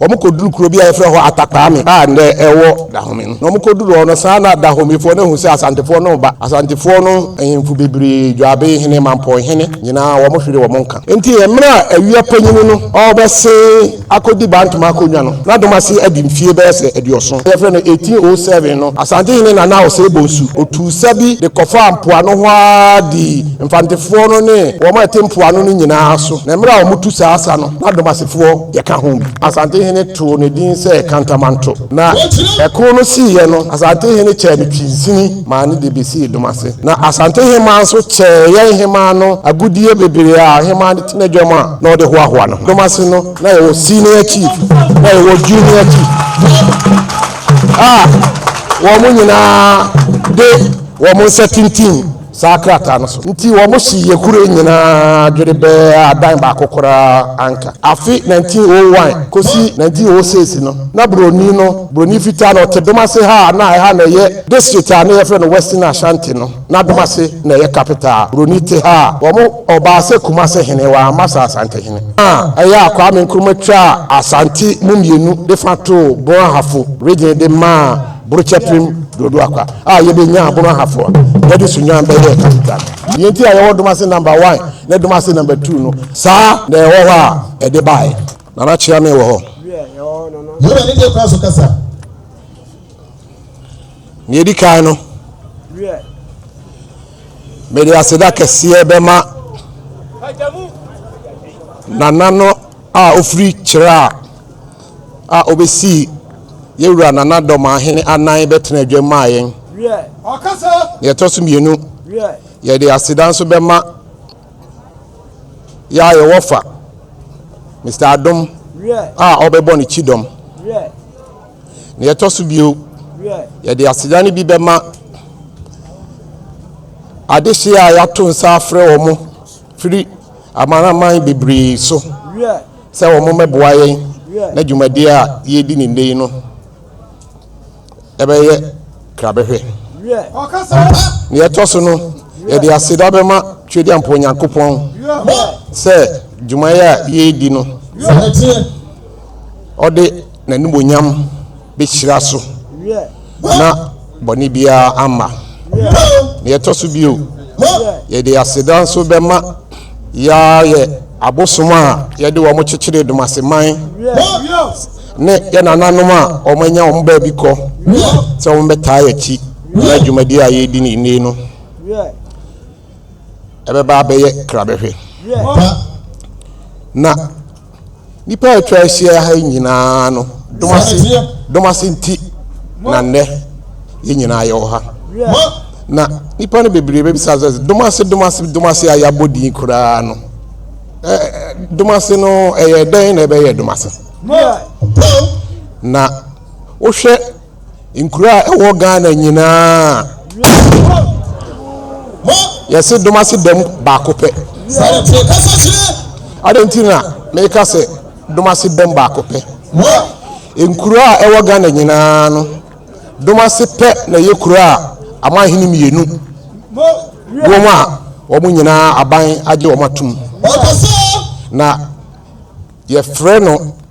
Wɔkɔduruu kuro bi a yɛfrɛ hɔ Atakpaame a nnɛ ɛwɔ Dahome no. Na wɔkɔduruu hɔ no, saa na Dahomefoɔ no ahunu sɛ Asantefoɔ no reba. Asantefoɔ no ahemfo bebree, Dwabei hene, Mampɔn hene, nyinaa wɔhweree wɔn nka. Enti mmerɛ a Awia panyini no ɔrebɛsen akɔdi Bantom akonnwa no, na Domase adi mfie bɛyɛ sɛ aduɔson. Yɛfrɛ no 1807 no, Asante hene Nana Osei Bonsu, ɔtuu sa bi de kɔfaa mpoano hɔ ara dii Mfantefoɔ no ne wɔn a ɛte mpoano no nyinaa so. Na mmerɛ a wɔtu saa sa no, Badomasefoɔ yɛ ka ho bi. Asantehene too ne din sɛ Kantamanto. Na ɛko no siiɛ no, Asantehene kyɛɛ no Twinsini maa no de bɛsii Domase. Na Asantehemaa nso kyɛɛ yɛn hemaa no agudeɛ bebree a ɔhemaa de te n'adwam a na ɔde hoahoa ne ho. Domase no, na yɛwɔ Senior Chief, na yɛwɔ Junior Chief a wɔn nyinaa de wɔn nsa tintim. saa krataa no so nti wɔhyee yɛn kuro yi nyinaa dwere bɛɛ a dan baako koraa anka. Afe 1901 kɔsi 1906 no, na Buroni no, Buroni fitaa no, ɔte Domase ha a na ɛha na ɛyɛ district a na wɔfrɛ no Western Ashanti no. Na Domase na ɛyɛ capital a Buroni te ha a wɔn ɔbaa sɛ Kumase hene, wɔamma sɛ Asante hene. Na ɛyɛ a Kwame Nkrumah twaa Asante mu mmienu de fa too Bon Ahafo region de maa Burokyɛpem Dodo Akwa a yɛde nyaa abono ahafo a yɛde so nyan bɛyɛɛ Kapitan. Nea enti a yɛwɔ Domase Number One ne Domase Number Two no, saa na ɛwɔ hɔ a ɛde baeɛ. Nana Kyeame wɔ hɔ. Yehowa ne deɛ kwan so kasa. Nea ɛdi kan no, mede aseda kɛseɛ bɛma Nana no a ɔfiri Kyerɛ a a obesii yɛn wura Nana Dormaa hene anan bɛtenaa dwam maa yɛn. Nea ɛtɔ so mmienu, yɛde aseda nso bɛma yɛn a yɛwɔ fa, Mister Adom a ɔbɛbɔ ne kyidɔm. Nea ɛtɔ so bio, yɛde aseda no bi bɛma adehye a yɛato nsa afrɛ wɔn firi amanaman bebree so. sɛ wɔmmɛboa yɛn na dwumadie a yɛredi ne nnɛ yi no ɛbɛyɛ krabɛhwɛ. Nea ɛtɔ so no, yɛde aseda bɛma Tweduampɔ Nyankopɔn sɛ dwumayɛ a yɛredi no ɔde n'animuonyam bɛhyira so, na bɔne biara amma. Deɛ ɛtɔ so bio, yɛde aseda nso bɛma Yah yɛ abosom a yɛde wɔn kyekyeree Dumaseman ne yɛn nananom a wɔanya wɔn baabi kɔ sɛ wɔbɛtaa yɛn akyi na dwumadi a yɛredi ne nne no ɛbɛba abɛyɛ krabɛhwɛ na Nnipa a atwa ahyia ha yi nyinaa no dom ase dom ase nti na nnɛ yɛn nyinaa yɛwɔ ha. Na nnipa no bebree bɛbisa sɛ dom ase dom ase dom ase a yɛabɔ din koraa no dom ase no ɛyɛ dɛn na ɛbɛyɛ dom ase na wohwɛ Nkuro a ɛwɔ Ghana nyinaa yɛse Domase dam baako pɛ. Adɛn nti na meka sɛ Domase dam baako pɛ? Nkuro a ɛwɔ Ghana nyinaa no, Domase pɛ na ɛyɛ kuro a amanhene mmienu wom a wɔn nyinaa aban agye wɔn atom. Na yɛfrɛ no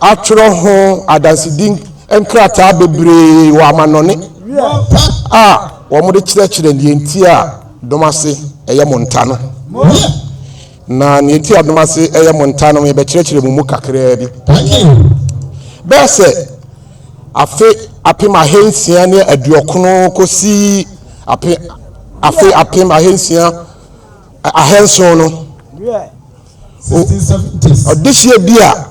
atwerɛ ho adansedi nkrataa bebree wɔ amannɔne a wɔde kyerɛkyerɛ deɛ nti a dom ase yɛ mo nta no. Na deɛ nti a dom ase yɛ mo nta no, yɛbɛkyerɛkyerɛ mo mu kakraa bi. Bɛyɛ sɛ afe apem ahansia ne aduɔkono kɔsi afe apem ahansia ahanson no, Ɔdehyeɛ bi a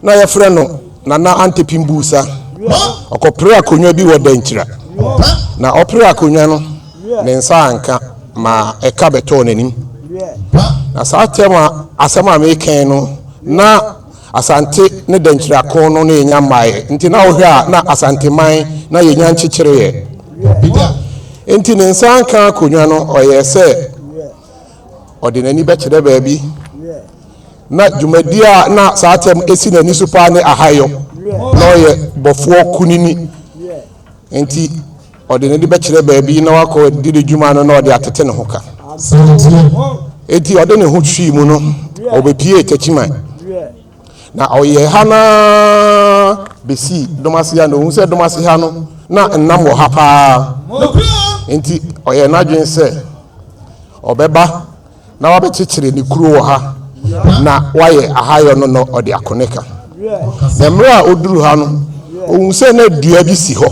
na wɔfrɛ no Nana Antepi Mbusa, ɔkɔperee akonnwa bi wɔ Dankyira, na ɔperee akonnwa no, ne nsa anka ma ɛka bɛtɔɔ n'anim. Na saa tɛm a asɛm a mereka yi no, na Asante ne Dankyira ko no na ɛnya mmaeɛ. Nti na wohwɛ a na Asanteman na yɛnya nkyekyereeɛ. Nti ne nsa anka akonnwa no, ɔyɛɛ sɛ Ɔde n'ani bɛkyerɛ baabi, na dwumadi a na saa tɛm si n'ani so paa ne ahayɔ. Na ɔyɛ bɔfoɔ kunini, nti ɔde n'ani bɛkyerɛ baabi na wakɔ di ne dwuma no na ɔde atete ne ho ka. Nti ɔde ne ho hwii mu no, ɔbɛpiee Techiman. Na ɔyɛɛ ha no ara bɛsii dɔm ase ha, na ɔhu sɛ dɔm ase ha no, na nnam wɔ ha paa. Enti ɔyɛɛ n'adwene sɛ ɔbɛba na wabɛkyekyere ne kuro wɔ ha, na wayɛ ahayɔ no na ɔde ako ne ka. Na mmerɛ a ɔduru ha no, ɔhu sɛ na dua bi si hɔ,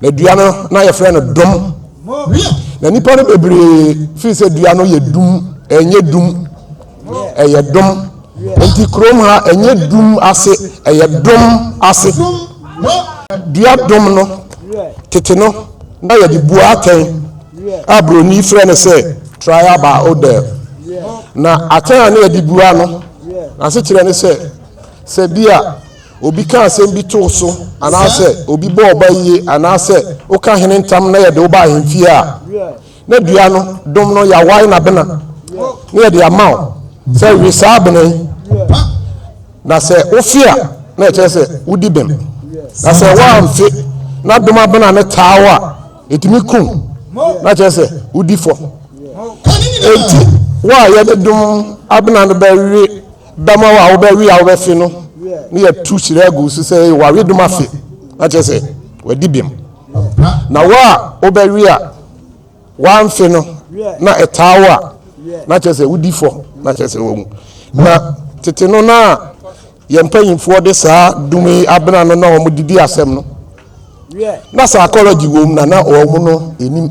Na dua no, na yɛfrɛ no dom. Na nnipa no bebree firi sɛ dua no yɛ dum, ɛnyɛ dum, ɛyɛ dom. Nti kurom ha, ɛnyɛ dum ase, ɛyɛ dom ase. Dua dom no, tete no, na yɛde bua atɛn a buroni frɛ no sɛ trial by odor. Na atɛn a na yɛde bua no, n'asekyerɛ ne sɛ, sɛ bi a Obi ka asɛm bi to wo so anaasɛ obi bɔ wo bayie anaasɛ woka hene ntam na yɛde wo ba ahemfie a, na dua no, dom no, yɛawae no abena na yɛde ama wo sɛ we saa abena yi, na sɛ wofe a, na ɛkyerɛ sɛ wodi bem, na sɛ woamfe na dom abena no taa wo a, ɛtumi kum, na kyerɛ sɛ wodi fɔ. Enti, wo a yɛde dom abena no bɛwe Bɛma wo a wobɛwe a wobɛfe no ne yɛatu hyira agu wo so sɛ ɛyɛ w'aweredom afe, na kyerɛ sɛ wadi bem. Na wo a wobɛwe a woamfe no na ɛtaa wo a, na kyerɛ sɛ wodi fɔ, na kyerɛ sɛ wawu. Na tete no na yɛn mpanyimfoɔ de saa dum yi abena no na wɔn didi asɛm no. Na psychology wom na na wɔn no anim.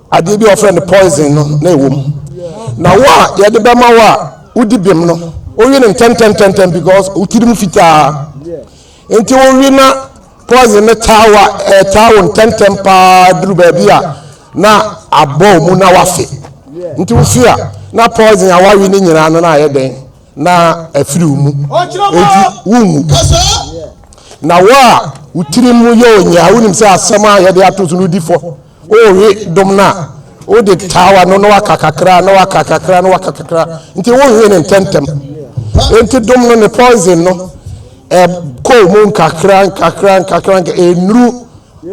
Adeɛ bi a wɔfrɛ no poison no na ɛwɔ mu. Na wo a yɛde bɛma wo a wodi bem no, wowe no ntɛntɛntɛntɛm because wo tirim fitaa. Nti wowe na poison no taa wo a, ɛtaa wo ntɛntɛm paa duru baabi a na abɔ mu na wafe. Nti wofe a, na poison a wawe no nyinaa no na ayɛ dɛn? Na afiri wo mu. Nti wonwu. Na wo a wo tirim yɛ onyaa, wonim sɛ asɛm a yɛde ato so no di fɔ. Wohwe dom no a, wode taa w'ano na waka kakra, na waka kakra, na waka kakra. Nti wohwe no ntɛmntɛm. Nti dom no ne poison no ɛkɔɔ mu nkakra nkakra nkakra nkakra ɛnuru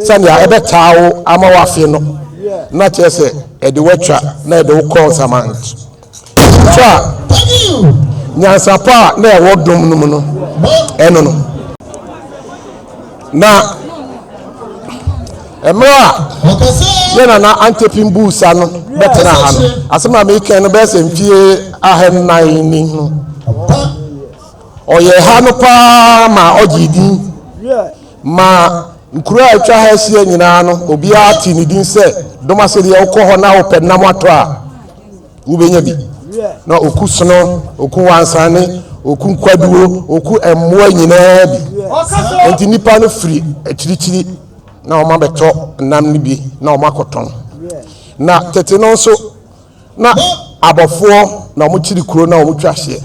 sɛnea ɛbɛtaa wo ama wafe no na kyerɛ sɛ ɛde watwa na ɛde wo kɔɔ nsaman. Fa nyansapɔ a na ɛwɔ dom no mu no ɛno no. Na mmerɛ a yɛ nana antepim buu sa no bɛtena ha no asɛm a meekɛn no bɛyɛ sɛ mfie ahannan ni no ɔyɛ ha no paa ma ɔgyee din ma nkuro a atwa ha ahyia nyinaa no obiara te ne din sɛ dom asɛdeɛ wokɔ hɔ na wopɛ nam atɔ a wobɛnya bi na ɔku sono ɔku wansane ɔku nkwaduo ɔku mmoa nyinaa bi nti nnipa no firi akyirikyiri na wɔn abɛtɔ nam no bi na wɔn akɔtɔn na tete no nso na abɔfoɔ na wɔn kyiri kuro na wɔn twa hyeɛ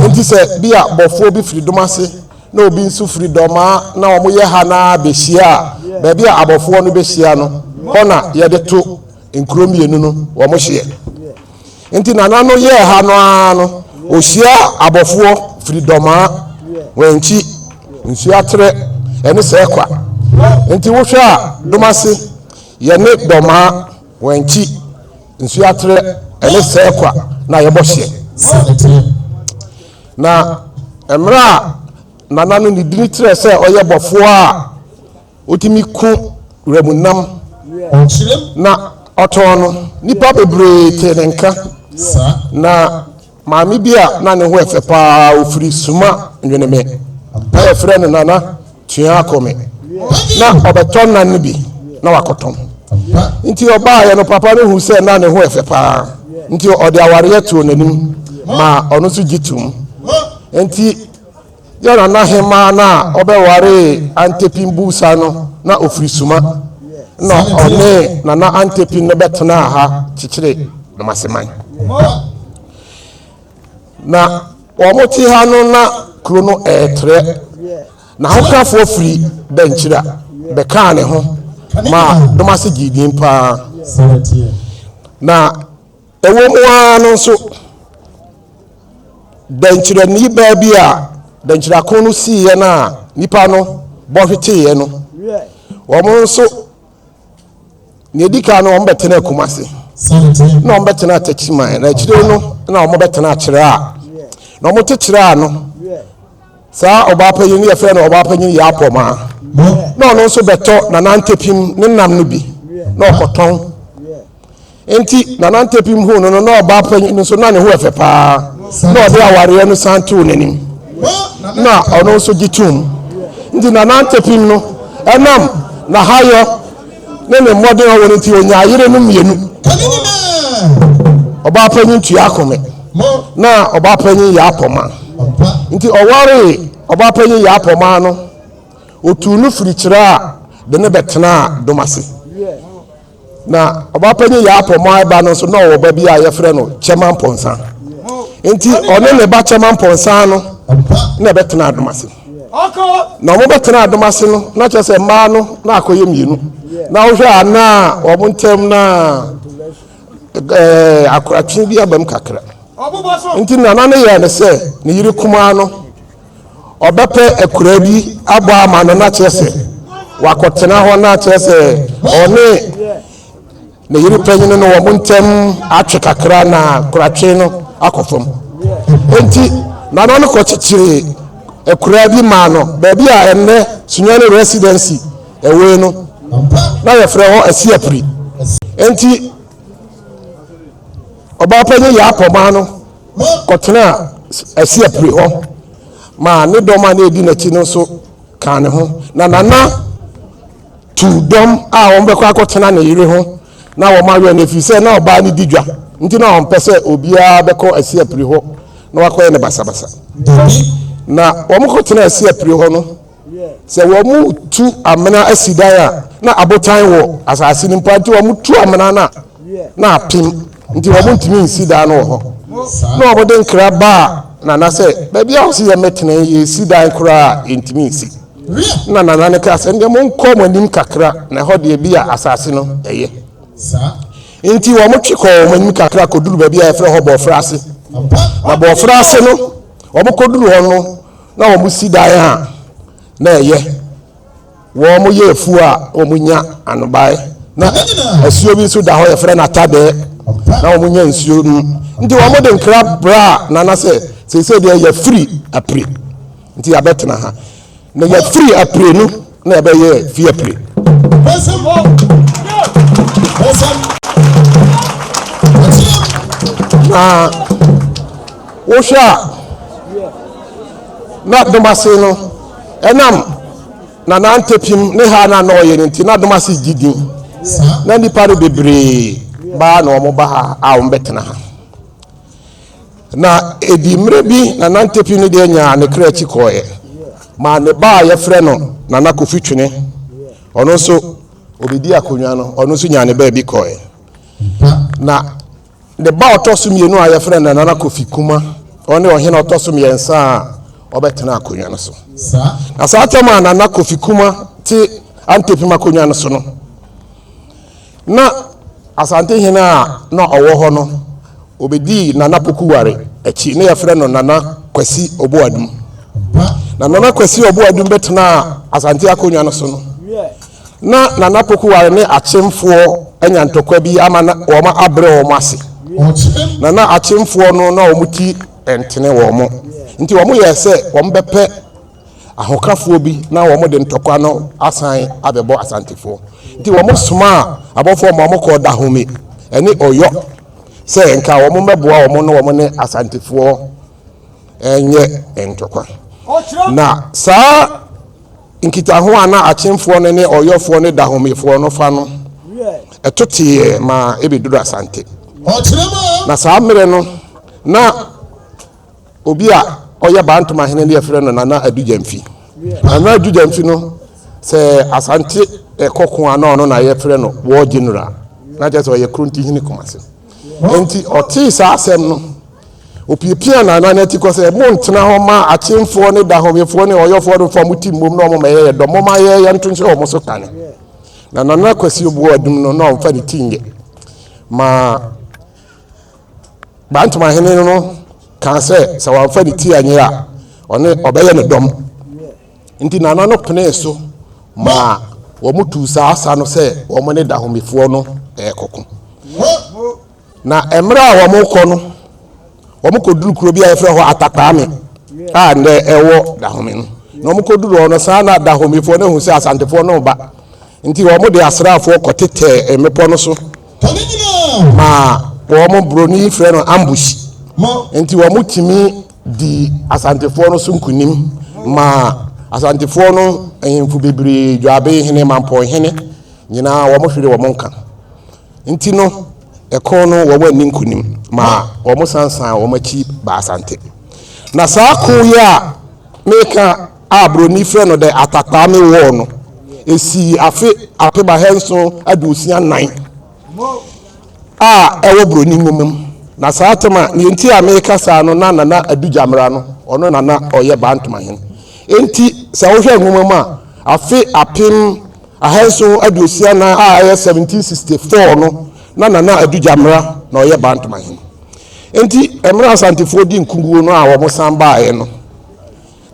nti sɛ bi a bɔfoɔ bi firi dom ase na obi nso firi dɔmaa na wɔn yɛ ha na bɛhyia a baabi a abɔfoɔ no bɛhyia no hɔ na yɛde to Nkuro mmienu no wɔn hyeɛ. Nti nana no yɛɛ ha no ara no ɔhyia abɔfoɔ firi dɔmaa wɔn nkyi nsuo aterɛ ɛne sɛ kwa nti wohwɛ a domase yɛne dɔmaa wɔn nkyi nsuo aterɛ ɛne sɛ kwa na yɛbɔ hyeɛ na mmerɛ a nana no ne dini terɛ sɛ ɔyɛ bɔfoɔ a Otumi ku wuramu nam na ɔtɔn no. Nnipa bebree tee ne nka. Na maame bi a na ne ho yɛ fɛ paa a ofiri Suma Nweneme a yɛfrɛ no Nana Tua Akome na ɔbɛtɔ nnan no bi na wakɔtɔn. Nti ɔbaeɛ no, papa no hu sɛ na ne ho yɛ fɛ paa, nti ɔde awareɛ too n'anim maa ɔno nso gye toom. Nti Yɛn nana hemaa no a ɔbɛwaree Antepin Busa no, na ɔfiri Suma. Nna ɔne Nana Antepin no bɛtenaa ha kyekyere Nomaseman. Na wɔte ha no na kuro no ɛɛtrɛ. N'ahokafoɔ firi Dankyira bɛkaa ne ho maa Domase gyee din paa. Na Ɛwom ara no nso, dɛnkyerɛnne baa bi a dɛnkyerɛako no siiɛ no a nnipa no bɔ hweteeɛ no, wɔn nso, nea ɛdi kan no, wɔbɛtena Kumasi, na wɔbɛtena Techiman, na akyire no na wɔbɛtena Akyerɛ a na wɔn te kyerɛ ano saa ɔbaapanyin no yɛfrɛ no ɔbaapanyin yɛ apɔma na ɔno nso bɛtɔ nanantepim ne nam no bi na ɔkɔtɔn Enti Nana Ntepim huu no no, na ɔbaa panyin no nso, na ne ho yɛ fɛ paa, na ɔde awareɛ no san too n'anim, na ɔno nso gye toom. Nti Nana Ntepim no, ɛnam n'ahayɔ ne ne mmɔden ɔwɔ no nti, ɔnyaa yere no mmienu. Ɔbaa panyin tua akome, na ɔbaa panyin yɛ apɔma. Nti ɔwaree ɔbaa panyin yɛ apɔma no, ɔtuu no firi kyerɛ a de no bɛtenaa dom ase. Na ɔbapanyin Yaapɔ Moai ba no nso na ɔwɔ ba bi a yɛfrɛ no Kyɛma Mpɔnsa. Nti ɔne ne ba Kyɛma Mpɔnsa no na ɛbɛtena adom ase. Na wɔbɛtena adom ase no na kyerɛ sɛ mmaa no na akɔyɛ mmienu. Na wohwɛ a na wɔn ntam na ɛɛ akoratwe bi abam kakra. Nti nana no yɛɛ ne sɛ ne yere kumaa no ɔbɛpɛ akuraa bi abɔ ama no na kyerɛ sɛ wakɔtena hɔ na kyerɛ sɛ ɔne ne yere panyin no wɔn ntɛm atwe kakra na koratwe no akɔ fam enti nana no kɔkyekyere akuraa bi maa no baabi a ɛnnɛ sunyani residency ɛwɔ no na yɛfrɛ hɔ asiapiri enti ɔbaa panyin yɛ apɔmaa no kɔtenaa Asiapre hɔ maa ne dɔm a na edi n'akyi no nso kaa ne ho. Na Nana tuu dɔm a wɔbɛkɔ akɔtena ne yere ho na wɔawɛn no efisɛ na ɔbaa no di dwa nti na ɔmpɛ sɛ obiara bɛkɔ Asiapre hɔ na wakɔyɛ no basabasa. Na wɔkɔtenaa Asiapre hɔ no, Sɛ wɔretu amena asi dan a, na abotan wɔ asase no mpo a, nti wɔtu amena no a, na apem. Nti wɔntumi nsi dan no wɔ hɔ. Na wɔde nkra baa Nana sɛ, Baabi a wɔse yɛmmɛtena yi, yɛresi dan koraa a, yɛntumi nsi. Na Nana no kaa sɛ, Ɛnneɛ monkɔ mo anim kakra, na ɛhɔ deɛ ebia asase no yɛ. Nti wɔtwe kɔɔ wɔn anim kakra kɔduru baabi a yɛfrɛ hɔ Bɔɔfrɛ ase. Na Bɔɔfrɛ ase no, wɔkɔduru hɔ no, Na wɔsi dan a na ɛyɛ, wɔyɛ afuw a wonya anobae, na asuo bi nso da hɔ, yɛfrɛ no Atadɛɛ, na wɔnya nsuo nom. Nti wɔde nkra braa Nana sɛ, seesei deɛ yɛafiri Apire, nti yɛabɛtena ha. Na yɛafiri Apire no, na ɛbɛyɛ viaplay. na wohwɛ a na domase no ɛnam na nantepim ne ha na na ɔyɛ no nti na domase gye din na nnipa no bebree baa na wɔn ba ha a wɔn bɛtena ha Na edii mmerɛ bi na Nantepi no deɛ nyaa ne kra akyi kɔeɛ maa ne ba a yɛfrɛ no Nana Kofi Twene. Ɔno nso ɔbɛdi akonnwa no, ɔno nso nyaa ne baabi kɔeɛ. Na ne ba ɔtɔ so mmienu a yɛfrɛ no Nana Kofi Kuma, ɔne ɔhene ɔtɔ so mmiɛnsa a ɔbɛtena akonnwa no so. Na saa tam a Nana Kofi Kuma te Antepim akonnwa no so no, Na Asantehene a na ɔwɔ hɔ no, ɔbɛdii Nana Pokuware akyi, na yɛfrɛ no Nana Kwasi Oboadum. Na Nana Kwasi Oboadum bɛtenaa Asante akonnwa no so no, na Nana Pokuware ne Akyemfoɔ anya ntɔkwa bi ama na wɔn abrɛ wɔn ase. Na na Akyemfoɔ no na wɔn ti ntene wɔn, nti wɔyɛɛ sɛ wɔbɛpɛ ahokafoɔ bi na wɔn de ntɔkwa no asan abɛbɔ Asantefoɔ. Nti wɔn somaa abɔfoɔ ma wɔn kɔɔ Dahome ɛne Ɔyɔ sɛ nka wɔn mmɛboa wɔn na wɔn ne Asantefoɔ ɛnyɛ ntɔkwa. Na saa nkitaho a na Akyemfoɔ no ne Ɔyɔfoɔ ne Dahomefoɔ no fa no ɛto teeɛ ma ɛbɛduru Asante. Na saa mmerɛ no na. Obi a ɔyɛ Bantom ahene no yɛfrɛ no Nana Adu Gyamfi. Nana Adu Gyamfi no, sɛ Asante ɛkɔ ko a na ɔno na yɛfrɛ no War General. Na kyerɛ sɛ ɔyɛ Kronti hene Kumase. Enti ɔtee saa asɛm no, opiapia Nana no ati kɔ sɛ, montena hɔ ma Akyemfoɔ ne Dahomeyɛfoɔ ne Ɔyɔfoɔ no mfa mo ti mmom na wɔmmɛyɛ yɛ dɔm, momma yɛn yɛnto nhyɛ wɔn so kane. Na Nana Kwasi Obuo Adum no, na ɔmfa ne ti nyɛ. Ma Gbantomahene no kaa sɛ sɛ wamfa ne ti anyɛ a, ɔne ɔbɛyɛ no dɔm. Nti Nana no penee so maa wɔn tuu saa sa no sɛ wɔn ne Dahomefoɔ no rekɔko. Na mmerɛ a wɔn rekɔ no, wɔn kɔduru kuro bi a yɛfrɛ hɔ Atakpaame a nnɛ ɛwɔ Dahome no. Na wɔn kɔduru hɔ no, saa na Dahomefoɔ no ahu sɛ Asantefoɔ no reba. Nti wɔn de asraafoɔ kɔtetɛɛ mmepɔ no so Ma wɔn boroni yi frɛ no ambush nti wɔn tumi di asantefoɔ no so nkunim ma asantefoɔ no ahemfo bebree dwabe hene mampɔn hene nyinaa wɔn hwere wɔn nka nti no ɛko no wɔn ani nkunim ma wɔn sansan wɔn akyi ba asante na saa ko yi a meka a Buroni frɛ no dɛ atakpaame wɔɔ no, esii afe apem ahaesuon aduosia nan a ɛwɔ Buroni nwoma mu. Na saa atam a nea enti a mereka saa no na Nana Adu Gyamera no, ɔno na na ɔyɛ Bantama hene. Enti sɛ wohwɛ nwoma mu a, afe apem ahaesuon aduosia nan a ɛyɛ 1764 no, na Nana Adu Gyamera na ɔyɛ Bantama hene. Enti mmerɛ Asantefoɔ dii nkuguo no a wɔsan baaeɛ no,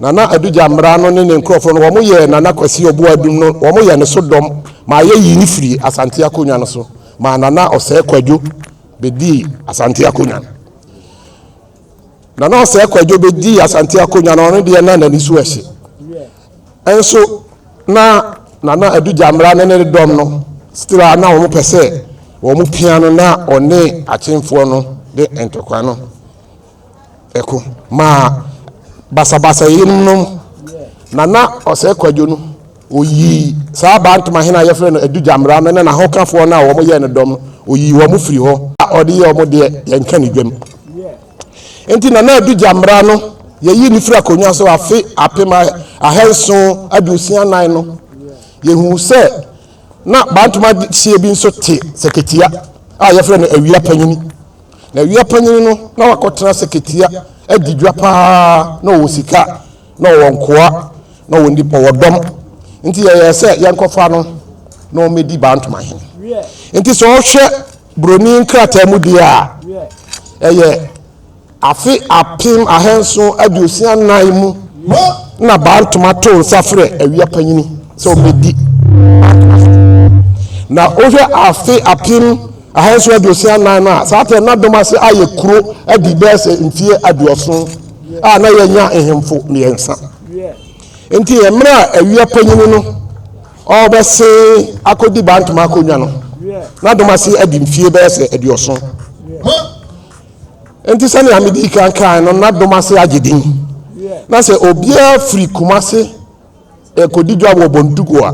Nana Adu Gyamera no ne ne nkorɔfoɔ no wɔn yɛɛ Nana Kwasi Ɔboadum no wɔn yɛɛ ne so dɔm maa yɛ yii no firii Asante Akonnwa no so maa Nana Ɔsɛɛ Kwadwo bɛdii Asante Akonnwa no. Nana Ɔsɛɛ Kwadwo bɛdii Asante Akonnwa no ɔno deɛ na nani so ɛhye nso na Nana Adu Gyamera ne ne dɔm no still a na wɔn pɛ sɛ wɔn pia no na ɔne Akyemfoɔ no de ntɔkwa no ɛko maa basabasayɛ yinom no na na ɔsɛe kwadwo no oyii saa bantama hene a yɛfrɛ no adu gyamera no ne n'ahokafoɔ no a wɔn yɛ no dɔm no oyii wɔn firi hɔ a ɔde yɛ wɔn deɛ yɛnka ne dwam nti na na adu gyamera no yɛyi ne firi akonnwa so afe apem ahanson aduosia nan no yɛhu sɛ na bantama hyeɛ bi nso te sɛkatia a yɛfrɛ no awia panyini Na wia panyin no, na wakɔtena sɛkɛtia adi dwa paa, na ɔwɔ sika, na ɔwɔ nkoa, na ɔwɔ nnipa, ɔwɔ dɔm. Nti yɛyɛɛ sɛ yɛnkɔfa no na ɔmmɛdi Bantama hene. Nti sɛ ɔhwɛ buroni nkrataa mu deɛ a, ɛyɛ afe apem ahanson aduosia nnan mu na Bantama too nsa frɛ awia panyini sɛ ɔmmɛdi Bantama hene. Na wohwɛ afe apem Ahanson aduosia anan no a saa tɛm no adom ase ayɛ kuro adi bɛyɛ sɛ mfeɛ aduɔson a na yɛanya nhemfo mmiɛnsa. Nti mmerɛ a awia panyini no ɔrebɛse akɔdi Bantam akonnwa no, na adom ase adi mfeɛ bɛyɛ sɛ aduɔson. Nti sɛnea medi kan kae no, na adom ase agye din. Na sɛ obiara firi Kumase ɛkɔdi dwa wɔ Bontugo a,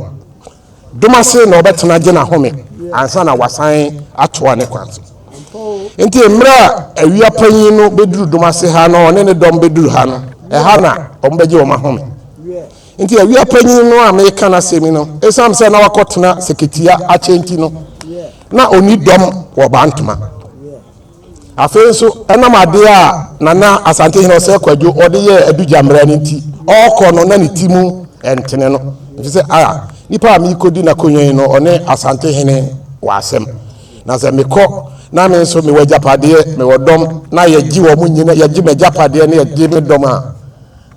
Dom ase na ɔbɛtena agye n'ahome ansa na wasan atoa ne kwan so. Nti mmerɛ a awia panyin no bɛduru dom ase ha na ɔne ne dɔm bɛduru ha no, ɛha na wɔbɛgye wɔn ahome. Nti awia panyin no a meka n'asɛm yi no, ɛsiane sɛ na wakɔtena sɛkɛtia akyɛ nti no, na ɔnni dɔm wɔ Bantama. Afei nso, ɛnam adeɛ a Nana Asantehene Ɔsɛɛ Kwadwo ɔde yɛɛ Adu Gyammerɛ no nti, ɔɔkɔ no na ne ti mu ntene no. Ɛfiri sɛ, a, nipa a meekɔdi n'akonwa yi no, ɔne Asantehene wɔ asɛm. Na sɛ mekɔ na me nso mewɔ agyapadeɛ, mewɔ dɔm, na yɛgye wɔn nyina, yɛgye m'agyapadeɛ na yɛgye me dɔm a,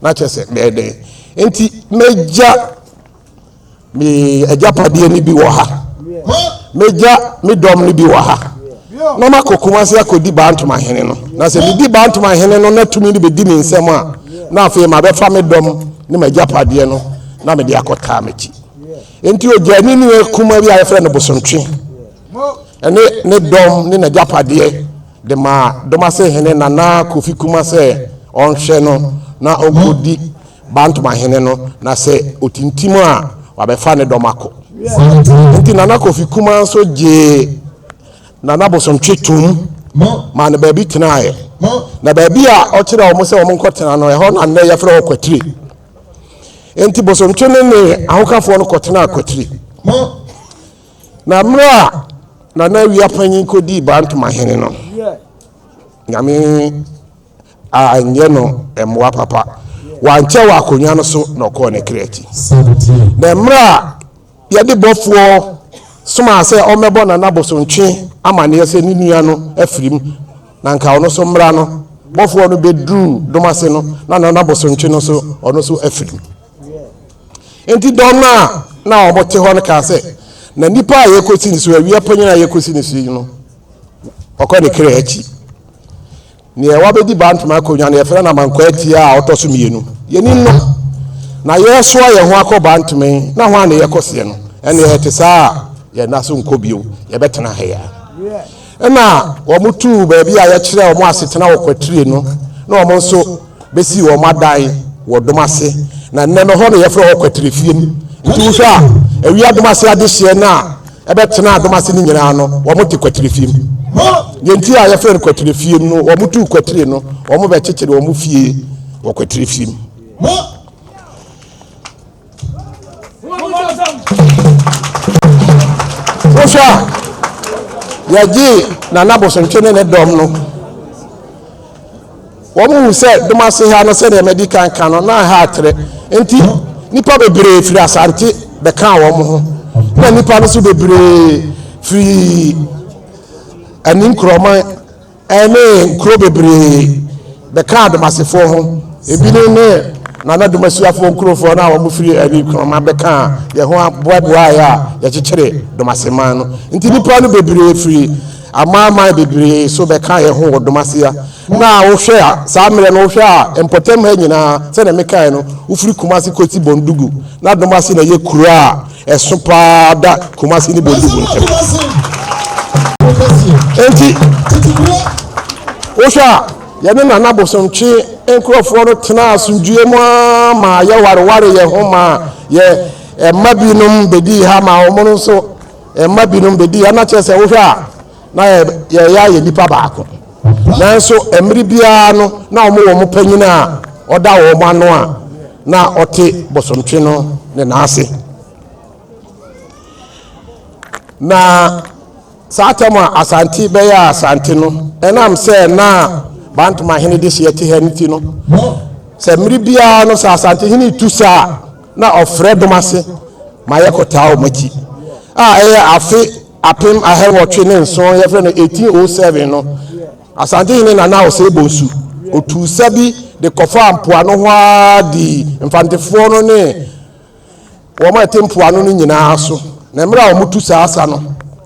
na kyerɛ sɛ mɛyɛ dɛn? Enti, mɛgya. Me agyapadeɛ no bi wɔ ha. Mɛgya me dɔm no bi wɔ ha. Na makɔ Kumasi akɔdi Bantoma hene no. Na sɛ medi Bantoma hene no na tumi no bɛdi me nsam a, na afei mabɛfa me dɔm ne m'agyapadeɛ no na mede akɔtaa m'akyi. Enti ɔgyaa ne nua kuma bi a yɛfrɛ no Bosontwe ne ne dɔm ne n'agyapadeɛ de maa Domase hene Nana Kofi Kuma sɛ ɔnhwɛ no na ɔnkɔdi Bantmahene no na sɛ otintim a, wabɛfa ne dɔm akɔ. Enti Nana Kofi Kumaa nso gyee Nana Bosontwe toom maa no baabi tenaeɛ. Na baabi a ɔkyerɛɛ wɔn sɛ wɔnkɔtena no, ɛhɔ na nnɛ yɛfrɛ hɔ Kwatire. Enti Bosontwe ne ne ahokafoɔ no kɔtenaa Kwatire. Na mmerɛ a Nana Awia Panyin kɔdii Bantmahene no, Nyame anyɛ no mmoa papa. Wankyɛ wɔ akonnwa no so na ɔkɔɔ ne kra akyi. Na mmerɛ a yɛde bɔfoɔ somaa sɛ ɔmmɛbɔ Nana Bosontwe amaneɛ sɛ ne nua no afirim na anka ɔno so mmra no, bɔfoɔ no bɛduruu Domase no na Nana Bosontwe no so ɔno so afirim. Enti dɔm no a na wɔte hɔ no kaa sɛ, Na nipa a yɛkɔsi ne so, awia panyin a yɛkɔsi ne so yi no, ɔkɔ ne kra akyi. Neɛ wabɛdi Bantam akonwa no yɛfrɛ no Amankwa Atia a ɔtɔ so mmienu. Yɛnim no. Na yɛresoa yɛn ho akɔ Bantam yi, na ho a na yɛkɔ seɛ no. Ɛnneɛ ɛte saa a, yɛn nan so nkɔ bio, yɛbɛtena ha yi ara. Ɛnna wɔtuu baabi a yɛkyerɛɛ wɔn asetena wɔ Kwatire no, na wɔn nso bɛsii wɔn adan wɔ Domase, na nnɛ no, hɔ na yɛfrɛ hɔ Kwatirefie. Nti wohwɛ a, awia Domase adehyeɛ no a, Ɛbɛtenaa dɔm ase no nyinaa no, wɔte kwatire fie mu. Deɛ nti a yɛfrɛ no kwatire fie no, wɔtuu kwatire no, wɔbɛkyekyere wɔn fie wɔ kwatire fie mu. Wohwɛ a, yɛgyee Nana Bosontwe ne ne dɔm no. Wɔhuu sɛ dɔm ase ha no, sɛnea madi kan ka no, na ɛha atrɛ. Enti nnipa bebree firi asante bɛkaa wɔn ho, na nnipa no nso bebree firi ani nkurɔman ne nkuro bebree bɛkaa Domasefoɔ ho. Ebinom ne Nana Domasuafoɔ nkurofoɔ no a wɔfiri ani nkurɔman bɛkaa yɛn ho boaboaeɛ a yɛkyekyeree Domaseman no. Enti nnipa no bebree firi Amanaman bebree nso bɛkaa yɛn ho wɔ Domasia. Na wohwɛ a, saa mmerɛ no, wohwɛ a, mpɔtam ha nyinaa, sɛdeɛ mekaeɛ no, wofiri Kumasi kɔsi Bondugu. Na Domasia na ɛyɛ kuro a ɛso pa ara da Kumasi ne Bondugu ntam. Enti, wohwɛ a, yɛne Nana Abosomtwe nkurɔfoɔ no tenaa asomdwoeɛ mu ara maa yɛwareware yɛn ho maa yɛn mma binom bɛdii ha maa wɔn nso Mma binom bedi ha, na kyerɛ sɛ wohwɛ a na yɛyɛ ayɛ nipa baako. Nanso mmere biara no na wɔn wɔn panyin a ɔda wɔn ano a na ɔte bosomtwe no ne nan ase. Na saa atam a Asante bɛyɛ Asante no, ɛnam sɛ na Bantom ahene de hyeɛ te ha no ti no, sɛ mmere biara no sɛ Asante hene tu saa a na ɔfrɛ dɔm ase ma yɛkɔtaa wɔn akyi a ɛyɛ afe apem ahɛwɔtwe ne nson yɛfrɛ no 1807 no asantehene nana ɔsɛe bonsu otuu sa bi de kɔfaa mpoano hɔ ara dii mfantefoɔ no ne wɔn a ɛte mpoano no nyinaa so na mmerɛ a wɔtu saa sa no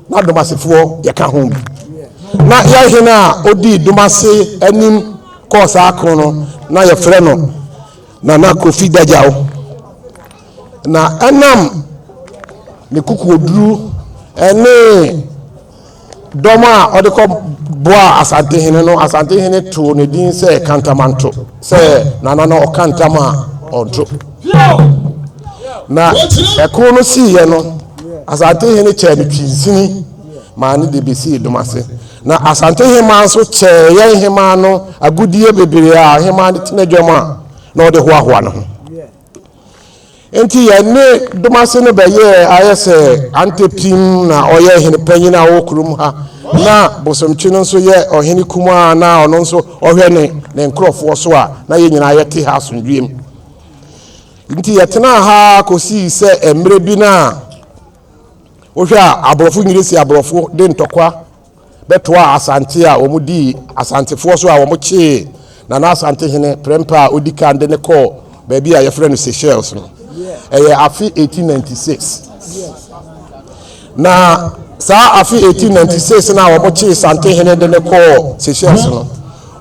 na domasefoɔ yɛka ho bi na yɛhene a ɔdii domase anim kɔɔ saa ko no na yɛfrɛ no Nana Kofi Dadjaw, na ɛnam ne kokoɔduru ne dɔm a ɔde kɔ boa Asantehene no, Asantehene too ne din sɛ Kantamanto, sɛ Nana no ɔka ntam a ɔnto. Na ɛko no siiɛ no, Asantehene kyɛɛ no twinsini maa ne de bɛsii Domase. Na Asante hemaa nso kyɛɛ yɛn hemaa no agudeɛ bebree a hemaa de tena dwam a na ɔde hoahoa ne ho. Enti yɛne Domase no bɛyɛɛ ayɛ sɛ antepim, na ɔyɛ hene panyin a ɔwɔ kurom ha, na Bosomtwe no nso yɛ ɔhene kumaa a na ɔno nso ɔhwɛ ne ne nkurɔfoɔ so a na yɛn nyinaa yɛte ha asomdwoeɛ mu. Enti yɛtenaa ha ara kɔsii sɛ mmerɛ bi no a, Wohwɛ a, aborɔfo nyere si aborɔfo de ntɔkwa bɛtoaa Asante a wɔn dii Asantefoɔ so a wɔn kyee Nana Asante hene prɛmpɛ a odi kan de ne kɔɔ baabi a yɛfrɛ no Seychelles no. Ɛyɛ afe 1896. Na saa afe 1896 no a wɔn kyee Sante hene de ne kɔɔ Seychelles no,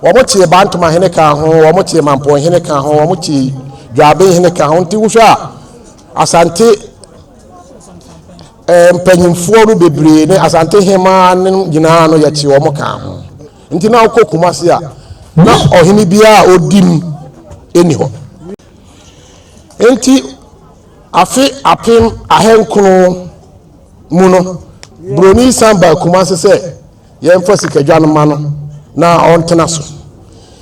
wɔn kyee Bantama hene ka ho, wɔn kyee Mampɔn hene ka ho, wɔn kyee Dwaaben hene ka ho. Nti wohwɛ a, Asante eh, mpanyimfoɔ no bebree ne asante hemaa no nyinaa no yɛkye wɔn kaa ho nti na wokɔ kuma se a na ɔhene biara a ɔdi mu ɛni hɔ nti afe apem ahenkron mu no buroni san baa kuma se sɛ Yɛmfa sikadwa no mma no na ɔntena so.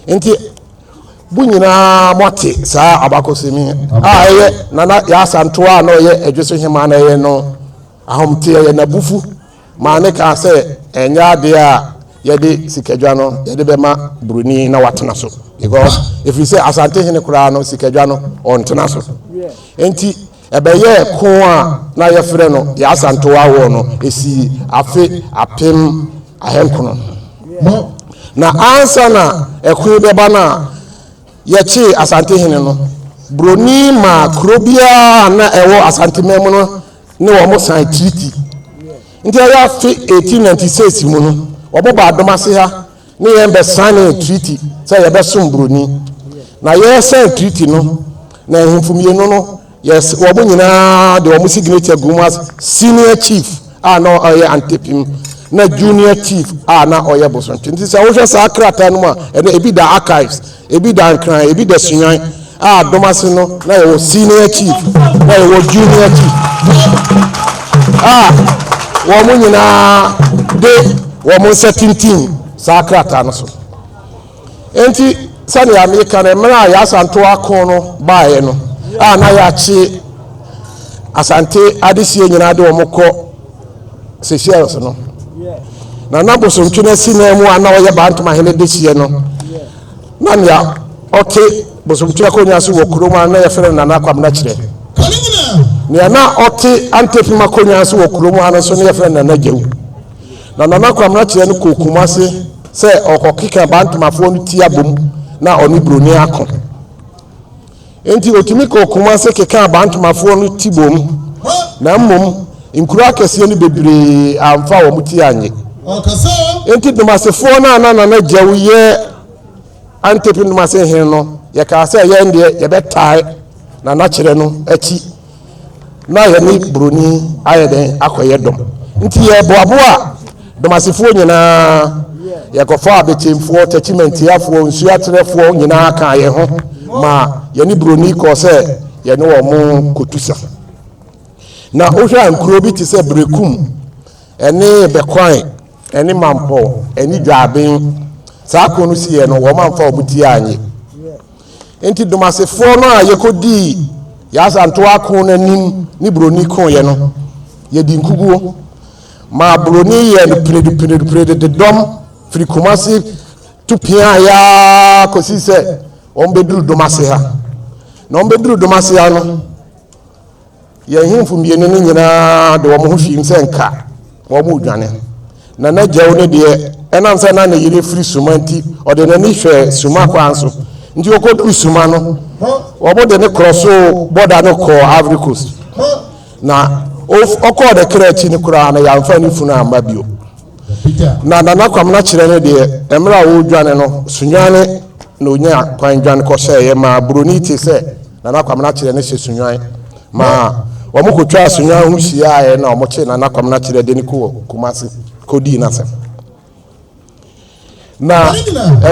Enti, mo nyinaa moate saa abakɔsɛm yi a ɛyɛ Nana Yaasa Ntoa a na ɔyɛ Adwo so Hemmaa na ɛyɛ no ahomte, ɛyɛ n'abufu maa ne kaa sɛ ɛnyɛ adeɛ a yɛde sikadwa no yɛde bɛma Buroni na watena so. Because, ɛfiri sɛ Asante hene koraa no sikadwa no ɔntena so. Enti, Ɛbɛyɛɛ ko a na wɔfrɛ no Y'Asantewaa Awɔɔ no, ɛsii afe apem ahankron ho. Na ansa na ɛko yi bɛba no a yɛkyee Asantehene no, Buroni maa kuro biara a na ɛwɔ Asanteman mu no ne wɔn san treaty. Nti ɛyɛ afe 1896 mu no, wɔbɔ baa Domase ha ne yɛn bɛsanee treaty sɛ yɛbɛsom buroni na yɛsan treaty no na ahemfo mmienu no yɛs wɔn nyinaa de wɔn signature gum as senior chief a na ɔyɛ antepim na junior chief a na ɔyɛ bosontwe nti sɛ wohwɛ saa krataa no mu a ɛnɛ ebi da archives Ebi da Nkran, ebi da Suyan a dɔm ase no na yɛwɔ Senior Chief na yɛwɔ Junior Chief a wɔn nyinaa de wɔn nsa tintim saa krataa no so. Enti sɛnea meka no mmerɛ a yɛasanto ako no baeɛ no a na yɛakye Asante adehyie nyinaa de wɔn kɔ Seychelles no na na bosontwe no asi nan mu a na ɔyɛ Bantom ahene dehyeɛ no na nea ɔte bosontwe akonnwa so wɔ kurom a na yɛfrɛ no Nana Kwabena kyerɛ. Nea na ɔte antefem akonnwa so wɔ kurom ha no nso na yɛfrɛ no Nana Gyew. Na Nana Kwabena kyerɛ no kɔɔ Kumase sɛ ɔkɔkeka Bantomafoɔ no ti abom na ɔne Buroni ako. Enti otumi kɔɔ Kumasi kekaa Bantumafoɔ no tibom, na mmom nkuro akɛseɛ no bebree amfa wɔn ti annye. Enti Dumasefoɔ no a na Nana Gyau yɛ Antepi Dumase hene no, yɛkaa sɛ yɛn deɛ yɛbɛtae Nana Kyerɛ no akyi, na yɛne Buroni ayɛ dɛn akɔyɛ dɔm. Nti yɛboaboaa Domasefoɔ nyinaa, yɛkɔfaa Abetemfoɔ, Takyimantiafoɔ, Nsuaterɛfoɔ nyinaa kaa yɛn ho ma yɛne Buroni kɔɔ sɛ yɛne wɔn kɔtu sa. Na wohwɛ a nkuro bi te sɛ Berekum ne Bɛkwan ne Mampɔw ne Dwaaben, saa ko no siiɛ no wɔn amfa wɔn ti annye. Enti Domasefoɔ no a yɛkɔdii yɛn asantoa ako no anim ne Buroni koeɛ no, yɛdii nkuguo maa Buroni yɛɛ no piridipiridipirid de dɔm firi Kumasi tu piaeɛ ara kɔsii sɛ wɔbɛduru Domase ha. Na wɔbɛduru Domase ha no, Yɛn nhemfo mmienu no nyinaa de wɔn ho hwim sɛ nka wɔredwane. Na na Gyau no deɛ, ɛnam sɛ na ne yere firi Suma nti, ɔde n'ani hwɛɛ Suma kwan so. Nti ɔkɔduru Suma no, wɔde no korɔsoo bɔda no kɔɔ Ivory Coast. Na ɔkɔɔ ne kra akyi no koraa no, yɛamfa ne funu amma bio. Na Nana Kwamena kyerɛ no deɛ, mmerɛ a ɔredwane no, Sunyane na ɔnya kwan dwane kɔhyɛeɛ maa Buroni te sɛ Nana Kwamena Kyerɛ ne hyɛ Sunnwan ma wɔkɔtwaa Sunnwan ho hyiaeɛ na wɔkye Nana Kwamena Kyerɛ de no kɔɔ Kumasi kɔdii n'asɛm. Na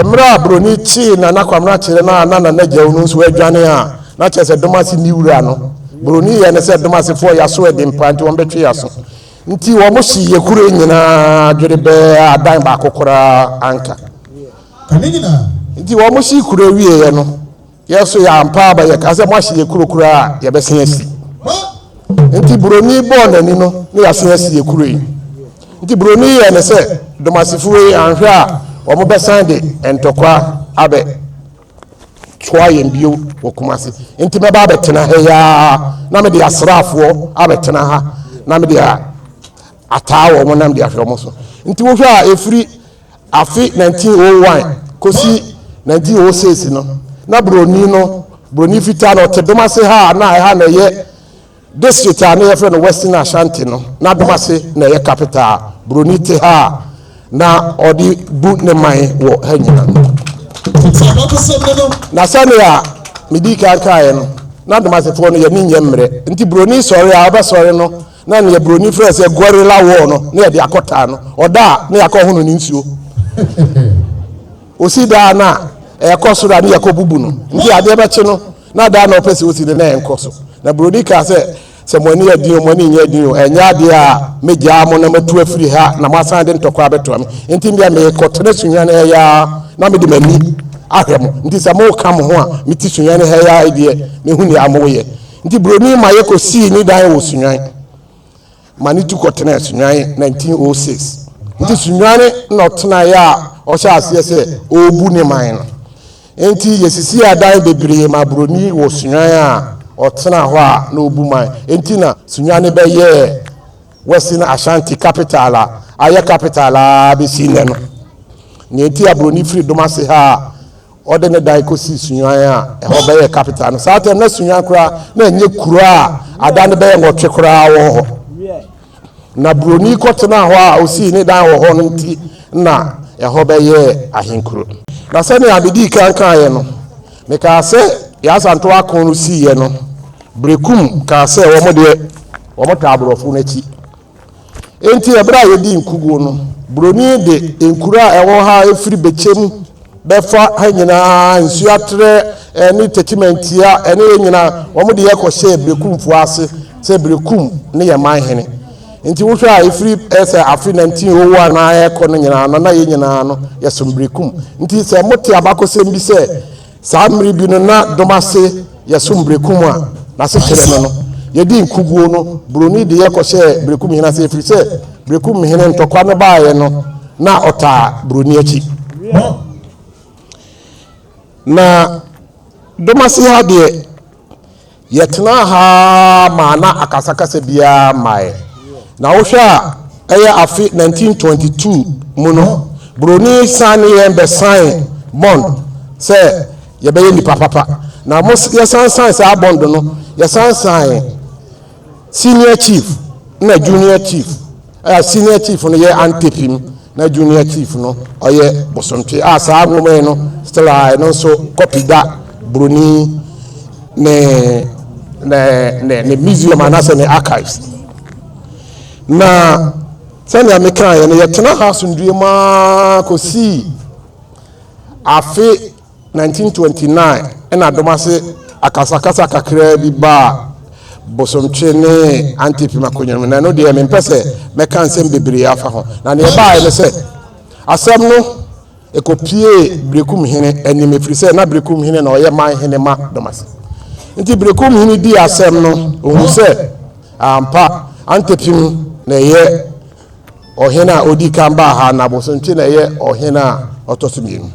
mmerɛ a Buroni kyee Nana Kwamena Kyerɛ no a na Nana Gyau no nso adwane a, na kyerɛ sɛ Domase nni wura no. Buroni yɛ ne sɛ Domasefoɔ y'aso ɛden paa nti wɔbɛtwe y'aso. Nti wɔhyee yɛ kuro nyinaa dwerebɛɛ a adan baako koraa anka. Nti wɔhyee kuro wieeɛ no, Yɛ so yɛ ampa aba yɛ ka sɛ mo ahye yɛ kuro kura a yɛ bɛ se asi. Nti buroni bɔɔ nani no ne yɛ se asi yɛ kuro yi. Nti buroni yɛ ne sɛ domasifo wei anhwɛ a wɔn bɛ san de ntɔkwa abɛ toa yɛn bio wɔ kumase. Nti mɛ ba abɛ tena ha yi aa na me de asraafoɔ abɛ tena ha na me de ataa wɔn na me de ahwɛ wɔn so. Nti wohwɛ a efiri Afe 1901 kosi 1906 no, na Buroni no, Buroni fitaa no, ɔte Domase ha a na ɛha na ɛyɛ district a na yɛfrɛ no Western Ashanti no. Na Domase na ɛyɛ capital a Buroni te ha a na ɔde bu ne man wɔ ha nyina. Na sɛnea medi kan kaeɛ no, na Domasefoɔ no yɛne nyɛ mmerɛ, nti Buroni sɔre a ɔbɛsɔre no Na nea buroni frɛ sɛ guerrilla war no na yɛde akɔtaa no. Ɔda a na yɛakɔ hono ne nsuo. Osi daa no a ɛkɔ soro a ne yɛkɔ bubu no. Nti adeɛ bɛkye no na daa na ɔpɛ sɛ osi no na ɛnkɔ so. Na buroni kaa sɛ, sɛ mo ani yɛ den o, mo ani nyɛ den o, ɛnyɛ adeɛ a mɛgyaa mo na matu afiri ha na moasan de ntɔkwa abɛtoa me. Nti medeɛ merekɔtena sunwɛne ha yi ara na mede m'ani ahwɛ mo. Nti sɛ moka mo ho a mete sunwɛne ha yi ara yi deɛ, mɛhu nea moyɛ. Nti Buroni Mayɛ kɔsii ne dan wɔ Sunyani ma ne tu kɔtenaa Sunyani 1906. Nti Sunyani na ɔtenaeɛ a ɔhyɛɛ aseɛ sɛ ɔrebu ne man no. Nti yɛsisii adan bebree maa Buroni wɔ Sunyani a ɔtenaa hɔ a na ɔbu man. Nti na Sunyani bɛyɛɛ Western Ashanti capital a ayɛ capital ara bɛsi nnɛ no. Nea nti a Buroni firi Domase ha a Wɔde ne dan kosii Sunyuan a ɛhɔ bɛyɛɛ capital no. Saa tɛm na Sunyuan koraa na ɛnyɛ kuro a ada no bɛyɛ nwɔtwe koraa wɔ hɔ. Na buroni kɔtenaa hɔ a ɔsii ne dan wɔ hɔ no nti na ɛhɔ bɛyɛɛ ahenkuro. Na sɛnea medii kan kaeɛ no, mekaa sɛ deɛ Asantew Akon no siiɛ no, Berekum kaa sɛ wɔn deɛ wɔtaa aborɔfo no akyi Enti bere a yedii nkoguo no, buroni de nkuro a ɛwɔ ha a ɛfiri Bekyem bɛfa ha nyinaa, Nsuaterɛ ne Techimantia ne yɛ nyinaa, wɔn de yɛ kɔhyɛɛ Berekumfoɔ ase sɛ Berekum ne yɛn man hene. Enti wohwɛ a ɛfiri sɛ afe 1901 na ɛrekɔ no nyinaa no, na yɛn nyinaa no, yɛsom Berekum. Nti sɛ mote abakɔsɛm bi sɛ, Saa mmere bi no na dom ase yɛ so mberekum a n'asekyerɛ ne no, Yɛdii nkuguo no buroni de yɛ kɔhyɛɛ berekum hene ase ɛfiri sɛ berekum hene ntɔkwa no baeɛ no na ɔtaa buroni akyi. Na dom ase ha deɛ Yɛtenaa ha ara maa na akasakasa biara mmae, na wohwɛ a ɛyɛ afe 1922 mu no, buroni san ne yɛn bɛsaee bond sɛ yɛbɛyɛ nnipa papa, na yɛsan saee saa bond no, yɛsan saee senior chief na junior chief. A Senior Chief no yɛ Ante Pim na Junior Chief no ɔyɛ Bosontwe a saa nwoma yi no still a ɛno nso kɔpi da Buroni ne ne ne ne museum anaasɛ ne archives na sɛnea mekaeɛ no yɛtena ha asomdwoe maa kɔsii afe 1929 na dɔm ase akasakasa kakraa bi baa Bosomtwe ne Antipim akonnwa no mu, na ɛno deɛ mempɛ sɛ mɛka nsɛm bebree afa ho. Na deɛ ɛbaeɛ ne sɛ, asɛm no kɔpuee Berekumhene anim, ɛfiri sɛ na Berekumhene na ɔyɛ man hene ma dɔm ase. Nti Berekumhene dii asɛm no, ɔhuu sɛ ampa Antipim na ɛyɛ Ɔhene a odi kan baa ha na Bosomtwe na ɛyɛ ɔhene a ɔtɔ so mmienu.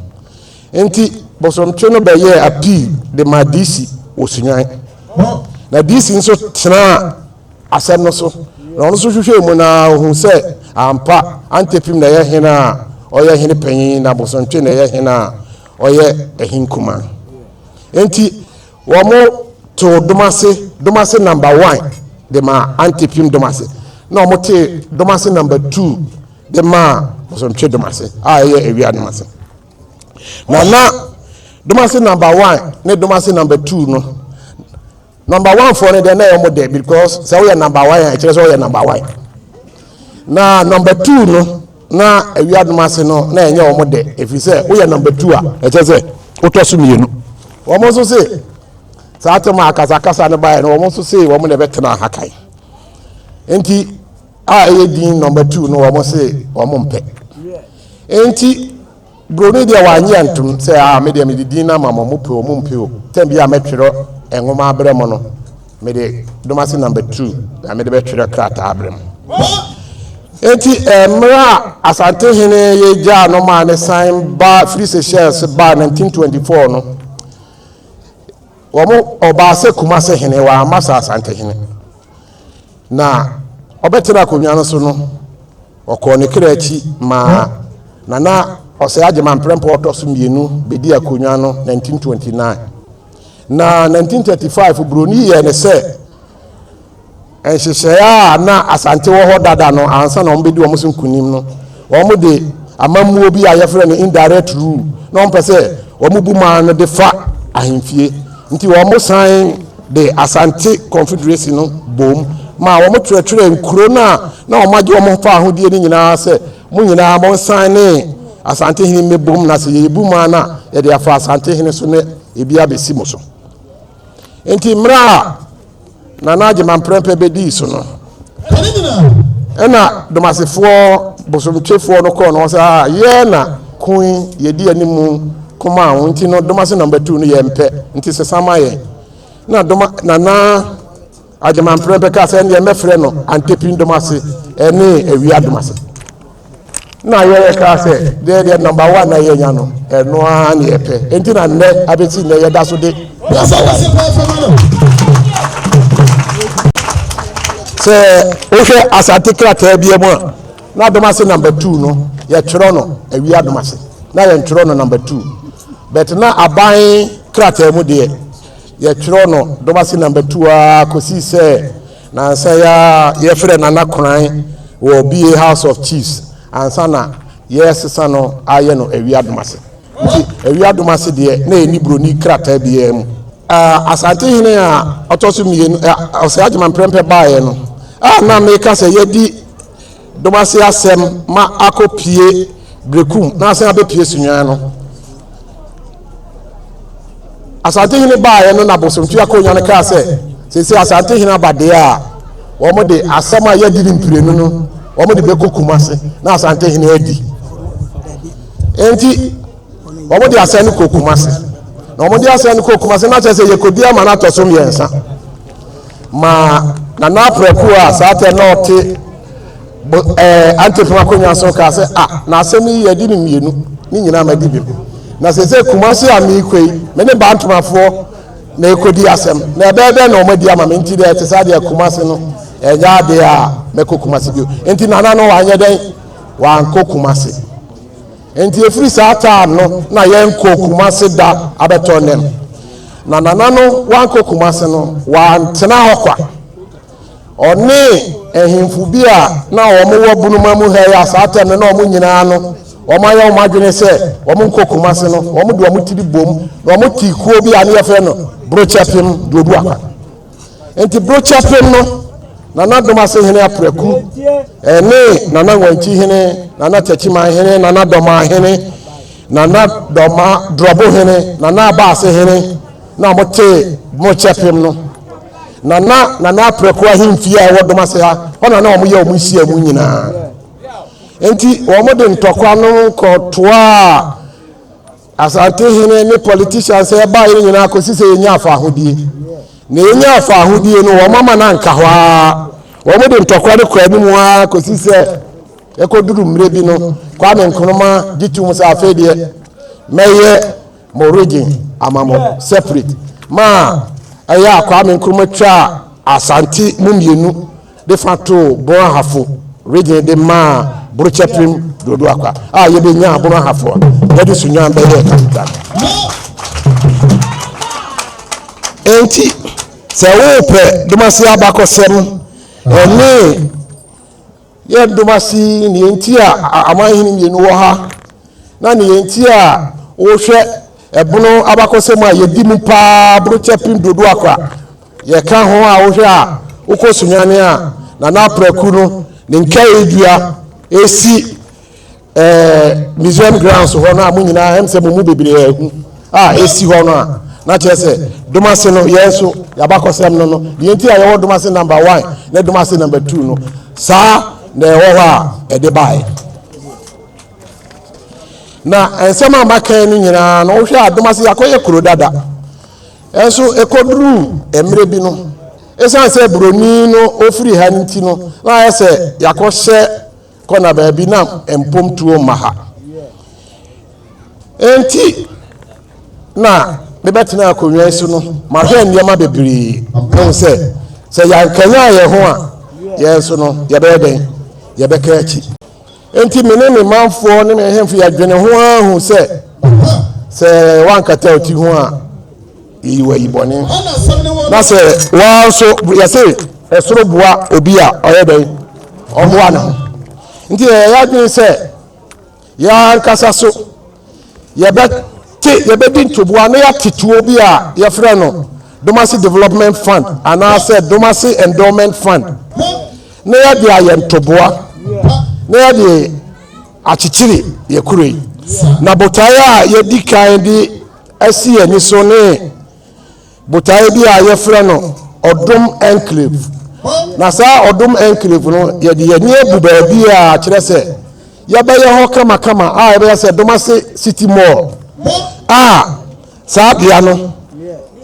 Enti Bosomtwe no bɛyɛɛ appeal de maa DC wɔ Sunyani. Na DC nso tenaa asɛm no so na ɔno nso hwehwɛɛ mu na ɔhuu sɛ ampa Antepim na ɛyɛ hene a ɔyɛ hene panyin na Bosomtwe na ɛyɛ hene a ɔyɛ hene kumaa. Enti Wɔn too Domase Domase Number One de maa Ante Pim Domase na wɔn tee Domase Number Two de maa Bosontwe Domase a ɛyɛ Awia Domase. Na na Domase Number One ne Domase Number Two no Number One foɔ no deɛ na ɛyɛ wɔn dɛ because sɛ woyɛ Number One a ɛkyerɛ sɛ ɔyɛ Number One na Number Two no. Na awiadom ase no, na ɛnyɛ wɔn dɛ, ɛfiri sɛ woyɛ number two a, ɛkyɛ sɛ wotɔ so mmienu. Wɔn nso se, saa atam a akasakasa no baeɛ no, wɔn nso se wɔn na ɛbɛtena ha kan. Enti a ɛyɛ din number two no, wɔn se wɔn mpɛ. Enti Buroni deɛ wannye antom sɛ, Ah, me deɛ mede din no ama mo, mopɛ o, mompɛ o, tɛm biara a mɛtwerɛ nwoma abrɛ mo no, mede Domase Number Two na mede bɛtwerɛ krataa abrɛ mo. Enti mmerɛ a Asantehene yi gyaa no maa ne san ba firi Seychelles baa 1924 no, wɔn ɔbaa sɛ Kumase hene, wamma sɛ Asantehene. Na ɔbɛtena akonnwa no so no, Ɔkɔɔ ne kra akyi maa Nana Osei Agyemang mprempɔ a ɔtɔ so mmienu bɛdii akonnwa no 1929. Na 1935 Buroni yɛɛ ne sɛ nhyehyɛeɛ a na Asante wɔ hɔ dada no ansa na wɔbɛdi wɔn so nkonim no, wɔde amammuo bi a yɛfrɛ no indirect rule na wɔmpɛ sɛ wɔbu man no de fa ahemfie nti wɔsan de Asante Confederacy no boom maa wɔkyerɛkyerɛɛ nkuro no a na wɔagye wɔn ho fa ahodeɛ no nyinaa sɛ, Mo nyinaa monsan ne Asantehene mmɛbom na sɛ yɛrebu mo ano a, yɛde afa Asantehene so na ebi abɛsi mo so. Enti mmerɛ a Nana Agyeman Prɛmpɛ bɛdii so no, Ɛna domasefoɔ bosomtwefoɔ no kɔɔ no hɔ sɛ a yɛɛ na koe yɛdi anim koma a nti no domase nɔmba tu no yɛ mpɛ nti sɛ sama yɛ na doma nana agyemanprɛ mpɛ kaa sɛ ɛneɛ mɛfrɛ no antepin domase ɛne awia domase Na yɛ yɛ kaa sɛ deɛ deɛ number one na yɛ nya no ɛno ara ne yɛ pɛ nti na nnɛ abɛsi nnɛ yɛ da so de. sɛ wohwɛ asante krataa bi mu a na adom ase number two no yɛtwerɛ no awie adom ase na yɛntwerɛ no number two but na aban krataa mu deɛ yɛtwerɛ no dom ase number two a kɔsii sɛ Nansa yi ara yɛfrɛɛ Nana Koran wɔ BA House of Chiefs ansa na yɛresesa no ayɛ no Awi Adom ase. Nti Awi Adom ase deɛ na ɛnni buroni krataa biara mu. Asante hene a ɔtɔ so mmienu, Ɔsɛe Agyeman Prɛmpɛ baeɛ no a na meka sɛ yɛadi Dɔm ase asɛm ma akɔ pie Berekum na asan abɛpie Sunyɔɛ no. Asante hene baeɛ no na Bosomtwe Akonya no kaa sɛ seesei Asante hene aba deɛ a wɔn de asɛm a yɛadi ne mprenu no wɔn de bɛkɔ Kumase na Asante hene adi. Enti wɔn de asɛm no kɔ Kumase na wɔn de asɛm no kɔ Kumase na kyerɛ sɛ yɛkɔdi ama no atɔ so mmiɛnsa. Ma Nana Apraku a saa tɛ na ɔte bo ɛɛ Antefam akonnwa so kaa sɛ, a na asɛm yi yɛ adi ne mmienu ne nyinaa ma di bi. Na sɛ sɛ Kumasi a meekɔ yi, me ne Bantomafoɔ na ɛkɔdi asɛm, na ɛbɛyɛ dɛn na wɔadi ama me nti deɛ ɛte saa deɛ Kumasi no ɛnyɛ adeɛ a mɛkɔ Kumasi bio. Nti Nana no wanyɛ dɛn? Wankɔ Kumasi. Enti ɛfiri saa taa no na yɛnkɔ Kumase da abɛtɔ nam. Na Nana no wankɔ Kumase no, wantena hɔ kwa. Ɔne ahemfo bi a na wɔn wɔ Bunuma mu ha yi a saa tɛm no na wɔn nyinaa no wɔn ayɛ wɔn adwene sɛ wɔn nkɔ Kumase no, wɔn de wɔn tiri bom na wɔn tii kuo bi a ne yɛfrɛ no Brokyɛpem Duoduakwa. Enti bere kyɛfem no, Nana Domase hene Apraku ne Nana Nwankyi hene, Nana Takyiman hene, Nana Dɔmaa hene, Nana Dɔma Dorɔbo hene, Nana Abaase hene na wɔtee bere kyɛfem no. Na na Nana Apraku ahemfie a ɛwɔ Domase ha, hɔ na na wɔyɛ wɔn nhyiamu nyinaa. Enti wɔde ntɔkwa no kɔtoaa Asante hene ne politicians a ɛbaeɛ no nyinaa kɔsi sɛ yɛnyaa faahodie. Na yɛnyaa faahodie no, wɔn ama no anka hɔ ara. Wɔn de ntɔkwa no kɔ anim ara kɔsi sɛ ɛkɔduru mmerɛ bi no, Kwame Nkrumah gye tom sɛ afei deɛ mɛyɛ mo region ama mo separate. Ma ɛyɛ a Kwame Nkrumah twaa Asante mu mmienu. de fa too Bono Ahafo Region de maa Borokyapim Dodo Akwa a yebenyaa Bono Ahafo a yɛde Sunyaan bɛyɛɛ capital no. Enti, sɛ wopɛ Domase abakɔsɛm ne yɛn Domase nea enti a amanhene mmienu wɔ ha na nea enti a wohwɛ ɛbono abakɔsɛm a yɛdi mu paa Borokyapim Dodo Akwa Yɛka ho a wohwɛ a wokɔ Sunyani a Nana Apraku no ne nkaedua esi ɛɛ museum grounds hɔ no a mo nyinaa ɛm sɛ mo mu bebree ahu a esi hɔ no a na kyerɛ sɛ Domase no yɛn nso yɛabakɔsɛm no no deɛ nti a yɛwɔ Domase number one ne Domase number two no saa na ɛwɔ hɔ a ɛde baeɛ na nsɛm a maka no nyinaa no wohwɛ a Domase yɛakɔyɛ kuro dada Nanso ɛkɔduruu mmerɛ bi no, ɛsiane sɛ buroni no ɔfiri ha nti no, na ayɛ sɛ yɛakɔhyɛ kɔna baabi na mpomtuo mma ha. Enti na mebɛtena akonnwa yi so no, mahwɛ nneɛma bebree. Ɛhu sɛ sɛ yɛankanyan yɛn ho a, yɛn nso no yɛbɛyɛ dɛn? Yɛbɛka akyi. Enti me ne me manfoɔ ne me ahemfo yɛdwene ho ara hu sɛ, sɛ woankata wo ti ho a, yɛyi wo ayi bɔne. Na sɛ woa nso, yɛse ɛsoro boa obi a ɔyɛ dɛn? Ɔboa ne ho. Nti yɛyɛ yɛadwene sɛ yɛankasa so Yɛbɛte, yɛbɛdi ntoboa na yɛate tuo bi a yɛfrɛ no Domasi Development Fund anaasɛ Domasi Endowment Fund na yɛde ayɛ ntoboa na yɛde akyekyere yɛ kuro yi. Na botaeɛ a yɛdi kan de asi yɛn ani so ne botaeɛ bi a yɛfrɛ no ɔdom enclave na saa ɔdom enclave no yɛde yɛni abu baabi a kyerɛ sɛ yɛbɛyɛ hɔ kamakama a yɛbɛyɛ sɛ dom ase city mall a saa bea no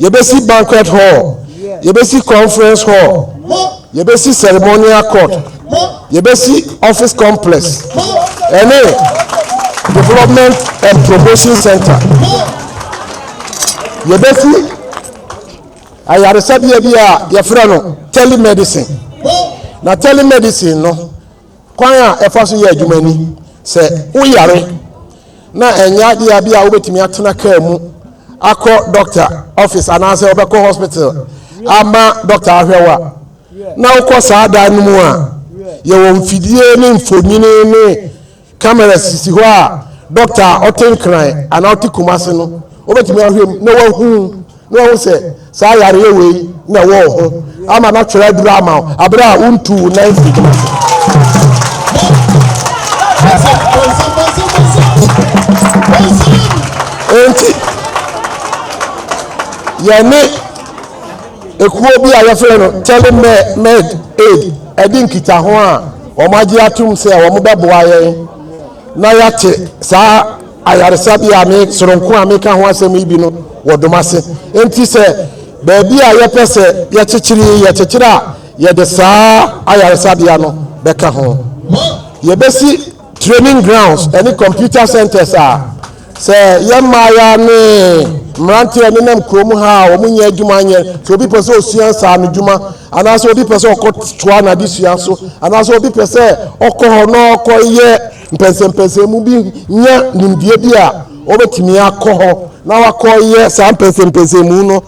yɛbɛsi banquet hall yɛbɛsi conference hall yɛbɛsi ceremonial court Yɛbɛsi office complex ɛne development and promotion center. Yɛbɛsi ayaresabea bi a yɛfrɛ no telemedicine. Na telemedicine no kwan a ɛfa so yɛ adwuma ni sɛ woyare na ɛnyɛ adeɛ a bi a wobɛtumi atena kaa mu akɔ doctor office anaasɛ wobɛkɔ hospital ama doctor ahwɛ wo a na wokɔ saa dan no mu a, yɛwɔ mfidie ne mfonini ne cameras sisi hɔ a dɔkta a ɔte nkran anaa ɔte kumase no wobɛtumi ahwɛ mu na wahu na wahu sɛ saa yareɛ wei na ɛwɔ ho ama no atwerɛ aduru ama wo aberɛ a wontu wo nan firi kumase enti yɛne Ekuo bi a wɔfrɛ no Telemed Aid adi nkitaho a wɔagye atom sɛ wɔbɛboa yɛn na yɛate saa ayaresabea a me soronko a meka ho asɛm yi bi no wɔ Domase. Enti sɛ baabi a yɛpɛ sɛ yɛkyekyere yi yɛkyekyere a, yɛde saa ayaresabea no bɛka ho. Yɛbɛsi training grounds ne computer centres a sɛ yɛ mmaaya ne mmeranteɛ nenam kurom ha a wɔn nyɛ adwuma nyɛ sɛ obi pɛ sɛ osua nsaano dwuma anaasɛ obi pɛ sɛ ɔkɔ toa n'adesua so anaasɛ obi pɛ sɛ ɔkɔ hɔ na ɔkɔ yɛ mpɛnsɛmpɛnsɛn mu bi nya nimdeɛ bi a wɔbɛtumi akɔ hɔ na wakɔ yɛ saa mpɛnsɛmpɛnsɛn mu no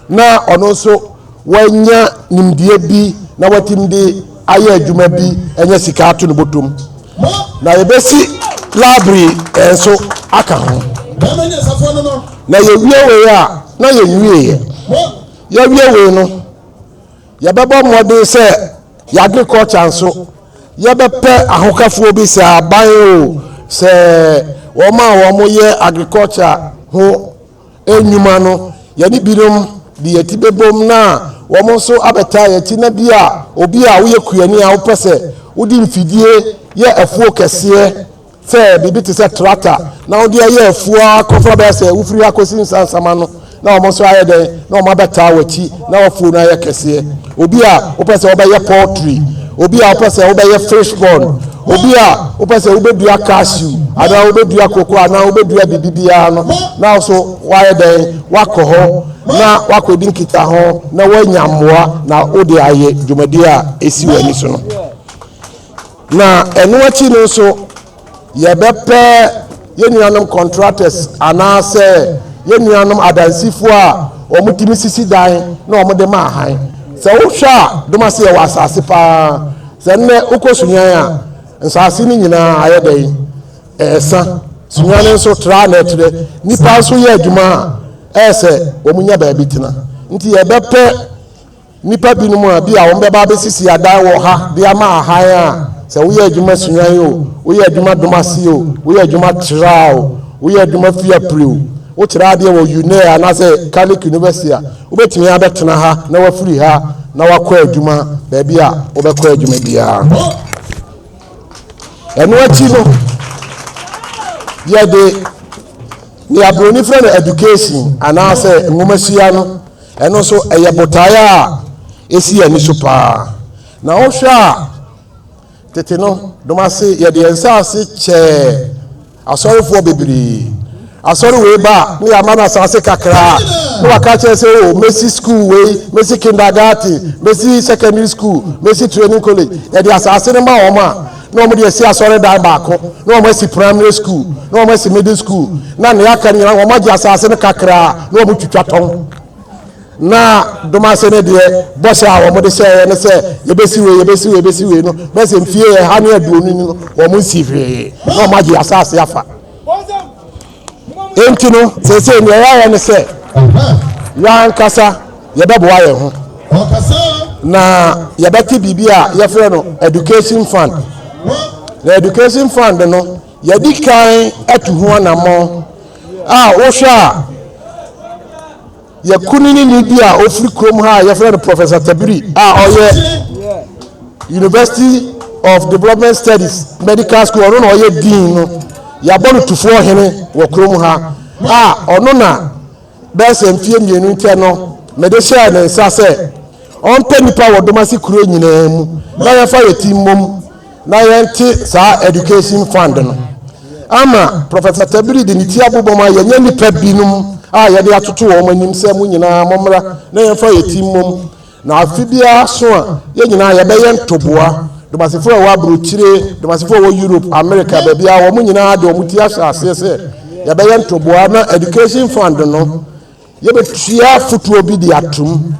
na ɔno nso wanya nimdeɛ bi na watumi de ayɛ adwuma bi anya sika ato ne bɔtom, na yɛbɛsi library nso aka ho. Na yɛwie wei a, na yɛnwieɛ. Yɛwie wei no, yɛbɛbɔ mmɔden sɛ yɛ agriculture nso yɛbɛpɛ ahokafoɔ bi, sɛ aban o, sɛ wɔn a wɔyɛ agriculture ho nnwuma no, yɛne binom de yɛn ti bɛbom na wɔn nso abɛtaa yɛn ti, na bi a obi a woyɛ kuani a wopɛ sɛ wode mfidie yɛ afuo kɛseɛ sɛ biribi te sɛ trata na wode ayɛ afuo ara kɔfa bɛyɛ sɛ wofiri ha kɔsi nsansama no na wɔn nso ayɛ dɛn na wɔn abɛtaa w'akyi na w'afuo no ayɛ kɛseɛ. Obi a wopɛ sɛ wobɛyɛ poultry, obi a wopɛ sɛ wobɛyɛ fish pond, obi a wopɛ sɛ wobɛdua cashew anaa wobɛdua koko anaa wobɛdua biribi biara no, na wo so woayɛ dɛn wakɔ hɔ na wakɔdi nkitaho na woanya mmoa na wode ayɛ dwumadie a ɛsi w'ani so no. Na ɛno akyi no nso, Yɛbɛpɛ yɛn nuanom contractors anaasɛ yɛn nuanom adansifo a wɔtumi sisi dan na wɔde ma hann. Sɛ wohwɛ a, dom ase yɛwɔ asase paa. Sɛ nnɛ wokɔ Sunyani a, nsase no nyinaa ayɛ dɛn? Ɛresa. Sunyani nso tra na ɛtrɛ. Nnipa nso yɛ adwuma a ɛyɛ sɛ wɔnya baabi tena. Nti yɛbɛpɛ Nnipa binom a ebia wɔbɛba abesisi adan wɔ ha de ama ahan a sɛ woyɛ adwuma suae o, woyɛ adwuma dom ase o, woyɛ adwuma traa o, woyɛ adwuma fi apire o, wokyerɛ adeɛ wɔ UNEA anaasɛ Catholic University a, wobɛtumi abɛtena ha na wafiri ha na wakɔ adwuma baabi a wobɛkɔ adwuma biara. Ɛno akyi no, yɛde nea Buroni frɛ no education anaasɛ nwomasua no Ɛno nso, ɛyɛ botae a esi ani so paa. Na wohwɛ a, tete no, dom ase yɛde yɛn nsase kyɛɛ asɔrefoɔ bebree. Asɔre wei ba a, na yɛama no asase kakraa, na waka kyerɛ sɛ, o, mesi sukuu wei, mesi kindergarten, mesi secondary school, mesi training college. Yɛde asase no ma wɔn a, na wɔn de asi asɔredan baako na wɔn asi primary school na wɔn asi middle school na nea aka nyinaa wɔn agye asase no kakraa na wɔn twitwa tɔn na domase no deɛ bɔhyɛ a wɔn de hyɛɛ no sɛ yɛbɛsi wei yɛbɛsi wei yɛbɛsi wei no bɛsɛ mfie ɛha ne aduonu no wɔn nsi hwee na wɔn agye asase afa. Enti no, seesei nea yɛayɛ ne sɛ yɛn ankasa yɛbɛboa yɛn ho, na yɛbɛte biribi a yɛfrɛ no education fund. Na education fund no, yɛadi kan atu ho anammɔn a wohwɛ a yɛ kunini bi a ɔfiri kurom ha a yɛfrɛ no professor tabiri a ɔyɛ university of development studies medical school ɔno na ɔyɛ dean no yɛabɔ no tufoɔ hene wɔ kurom ha a ɔno na bɛyɛ sɛ mfeɛ mmienu nkyɛ no mede hyɛɛ ne nsa sɛ ɔmpɛ nnipa wɔ domase kuro nyinaa mu na yɛfa yɛ ti mmom na yɛnte saa education fund no ama Prɔfɛt Matabiri de ne ti abobɔ ma yɛnyɛ nnipa binom a yɛde atoto wɔn anim sɛ mo nyinaa mommra na yɛmfa yɛ ti mmom na afe biara so a yɛn nyinaa yɛbɛyɛ ntoboa Domasifo a ɛwɔ aburokyire, Domasifo a ɛwɔ Europe, America, baabi a wɔn nyinaa de wɔn ti ahyɛ aseɛ sɛ yɛbɛyɛ ntoboa na education fund no yɛbɛtua fotoɔ bi de atom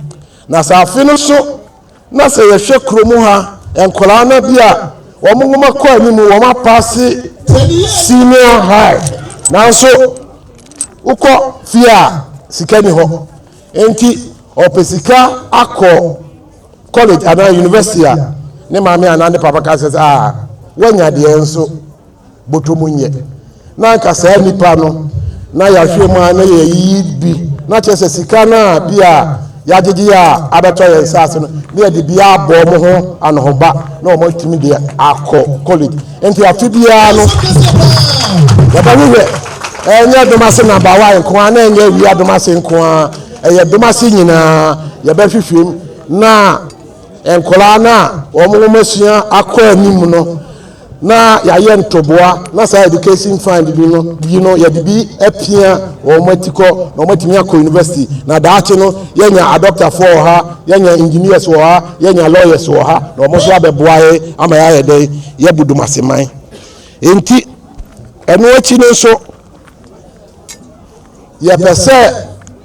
na sɛ afe no so Na sɛ yɛhwɛ kurom ha, nkwadaa no bi a wɔn nwoma kɔ anim, wɔn apaase senior high, nanso wokɔ fie a sika ni hɔ. Enti ɔpɛ sika akɔ college anaa university a ne maame anaa ne papa ka sɛ ah woanya deɛ nso Bɔtɔm nyɛ na anka saa nipa no na yahwɛ mu a na yɛyiyi bi na kyerɛ sɛ sika no a bi a yagyegye a abɛtɔ yɛn nsa ase no na yɛde bi abɔ wɔn ho anohoba na wɔn atumi de akɔ college nti afe biara no yɛbɛhwehwɛ ɛnyɛ domase nabawa nko a na ɛnyɛ awia domase nko a ɛyɛ domase nyinaa yɛbɛhwehwɛ mu na nkwadaa no a wɔn wɔn asua akɔ anim no na yɛayɛ ntoboa na saa education fund bi no bi no yɛde bi apia wɔn atikɔ na wɔatumi akɔ university na daakye no yɛnya adɔktafoɔ wɔ ha yɛnya engineers wɔ ha yɛnya lawyers wɔ ha na wɔn nso abɛboa yɛ ama yɛayɛ dɛn yɛbu dumaseman nti ɛno akyi no nso yɛpɛ sɛ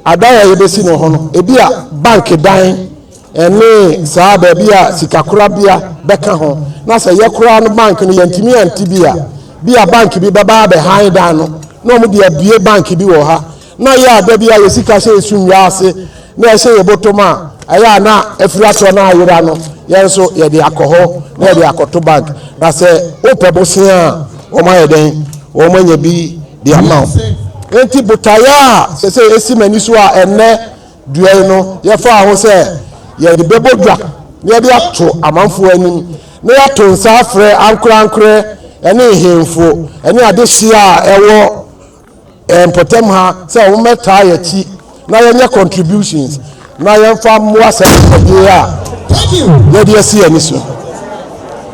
adan a yɛbɛsi no hɔ no, ebi a bank dan ne saa baabi a sikakorabea bɛka ho, na sɛ yɛkora no bank no yɛntumi ante bi a, bi a bank bi bɛba abɛhan dan no, na wɔde abue bank bi wɔ ha, na yɛ a da bi a yɛ sika hyɛ yɛ so nnwa ase. na ɛhyɛ yɛn bɔtɔm a, ɛyɛ a na afiri atɔ na ayera no, yɛn nso yɛde akɔ hɔ na yɛde akɔto bank. Na sɛ wopɛ bosea a, wɔayɛ dɛn? Wɔanya bi de ama wo. Enti botaeɛ a sɛsɛ esi m'ani so a ɛnnɛ dua yi no yɛfaa ho sɛ yɛde bɛbɔ dwa na yɛde ato amanfoɔ anim na yɛato nsa afrɛ ankorankorɛ ne nhemfo ne adehyeɛ a ɛwɔ Yɛn mpɔtam ha sɛ wɔmmɛtaa yɛn akyi na yɛnyɛ contributions na yɛmfa mmoa saa dwumadie a yɛde asi yɛn ani so.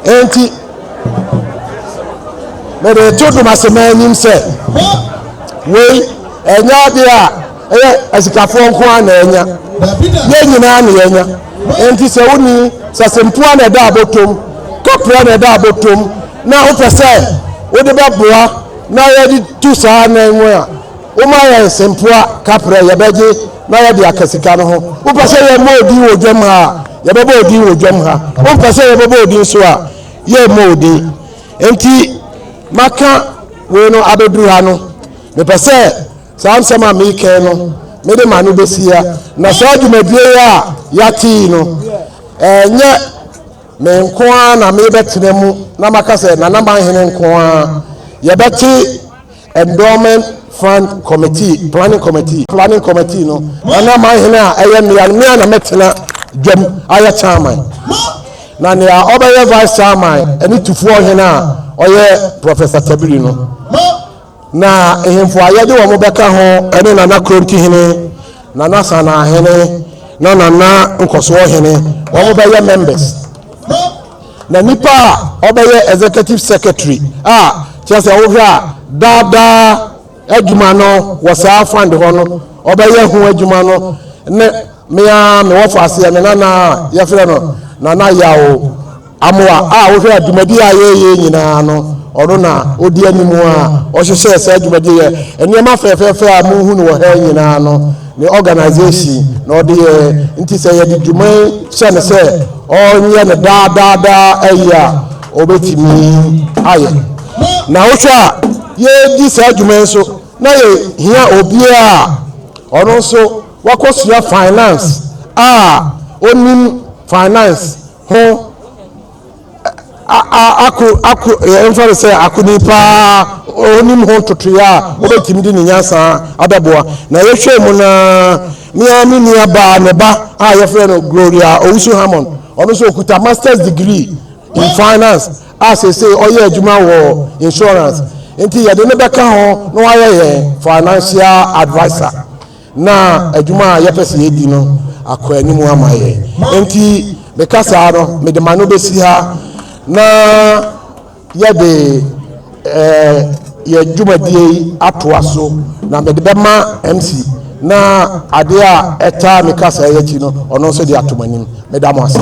Enti, mede to dom ase ma anim sɛ wei ɛnyɛ adeɛ a ɛyɛ asikafoɔ nko ara na ɛnya. Yɛn nyinaa na yɛnya. Enti sɛ woni sasempoa na ɛda abotom, kɔprɛ na ɛda abotom na wopɛ sɛ wode bɛboa na yɛde tu saa anan mu a, woma yɛn nsɛmpoa kaprɛ yɛbɛgye na yɛde aka sika no ho. Wopɛ sɛ yɛmmɔ odin wɔ dwam ha a, yɛbɛbɔ odin wɔ dwam ha. Wompɛ sɛ yɛbɛbɔ odin so a, yɛmmɔ odin. Enti maka wei no abɛduru ha no, mepɛ sɛ saa nsɛm a meekɛn no mede ma no bɛsi ha. Na saa dwumadie yi a yɛate yi no, ɛnyɛ Me nko ara na mebɛtena mu na maka sɛ Nana Manhene nko ara. Yɛbɛte Endowment Fund Committee, Planning Committee, Planning Committee no. Nana Manhene a ɛyɛ mmea no, me ara na mɛtena dwam ayɛ Chairman. Na nea ɔbɛyɛ Vice Chairman ne Tufoɔ Hene a ɔyɛ Professor Tabiri no. Na ahemfo a yɛde wɔn bɛka ho ne Nana Kronti hene, Nana Sanaa hene, na Nana Nkɔsoɔ hene, wɔn bɛyɛ members. Na nipa a ɔbɛyɛ executive secretary a kyerɛ sɛ wohwɛ a daadaa adwuma no wɔ saa fund hɔ no, ɔbɛyɛ ho adwuma no ne mea mewɔ faaseɛ me nana a yɛfrɛ no Nana Yaw Amoa a wohwɛ a dwumadi a yɛyɛ nyinaa no ɔno na odi anim a ɔhyehyɛɛ saa dwumadi yɛ nneɛma fɛfɛɛfɛ a muhu no wɔ ha nyinaa no ne organization na ɔde yɛ nti sɛ yɛde dwuma yi hyɛ no sɛ ɔnyɛ no daadaadaa ayi a ɔbɛtumi ayɛ na wohwɛ a yɛdi saa dwuma yi so na yɛhia obiara a ɔno nso wakɔsua finance a onim finance ho ako ako yɛmfa no sɛ akoni paa ɔnim ho ntotoeɛ a wobɛtumi de ne nyansa abɛboa na yɛhwɛ mu na mea me nua baa ne ba a yɛfrɛ no Gloria Owusu Hammond ɔno nso ɔkuta masters degree in finance a seesei ɔyɛ adwuma wɔ insurance nti yɛde ne bɛka ho na wayɛ yɛn financial advisor na adwuma a yɛpɛ sɛ yɛdi no akɔ anim ama yɛn. Enti meka saa no, mede m'ano bɛsi ha na yɛde eh, yɛn dwumadie yi atoa so, na mede bɛma MC na adeɛ a ɛtaa me kasa yi akyi no, ɔno nso de ato m'anim. Meda mo ase.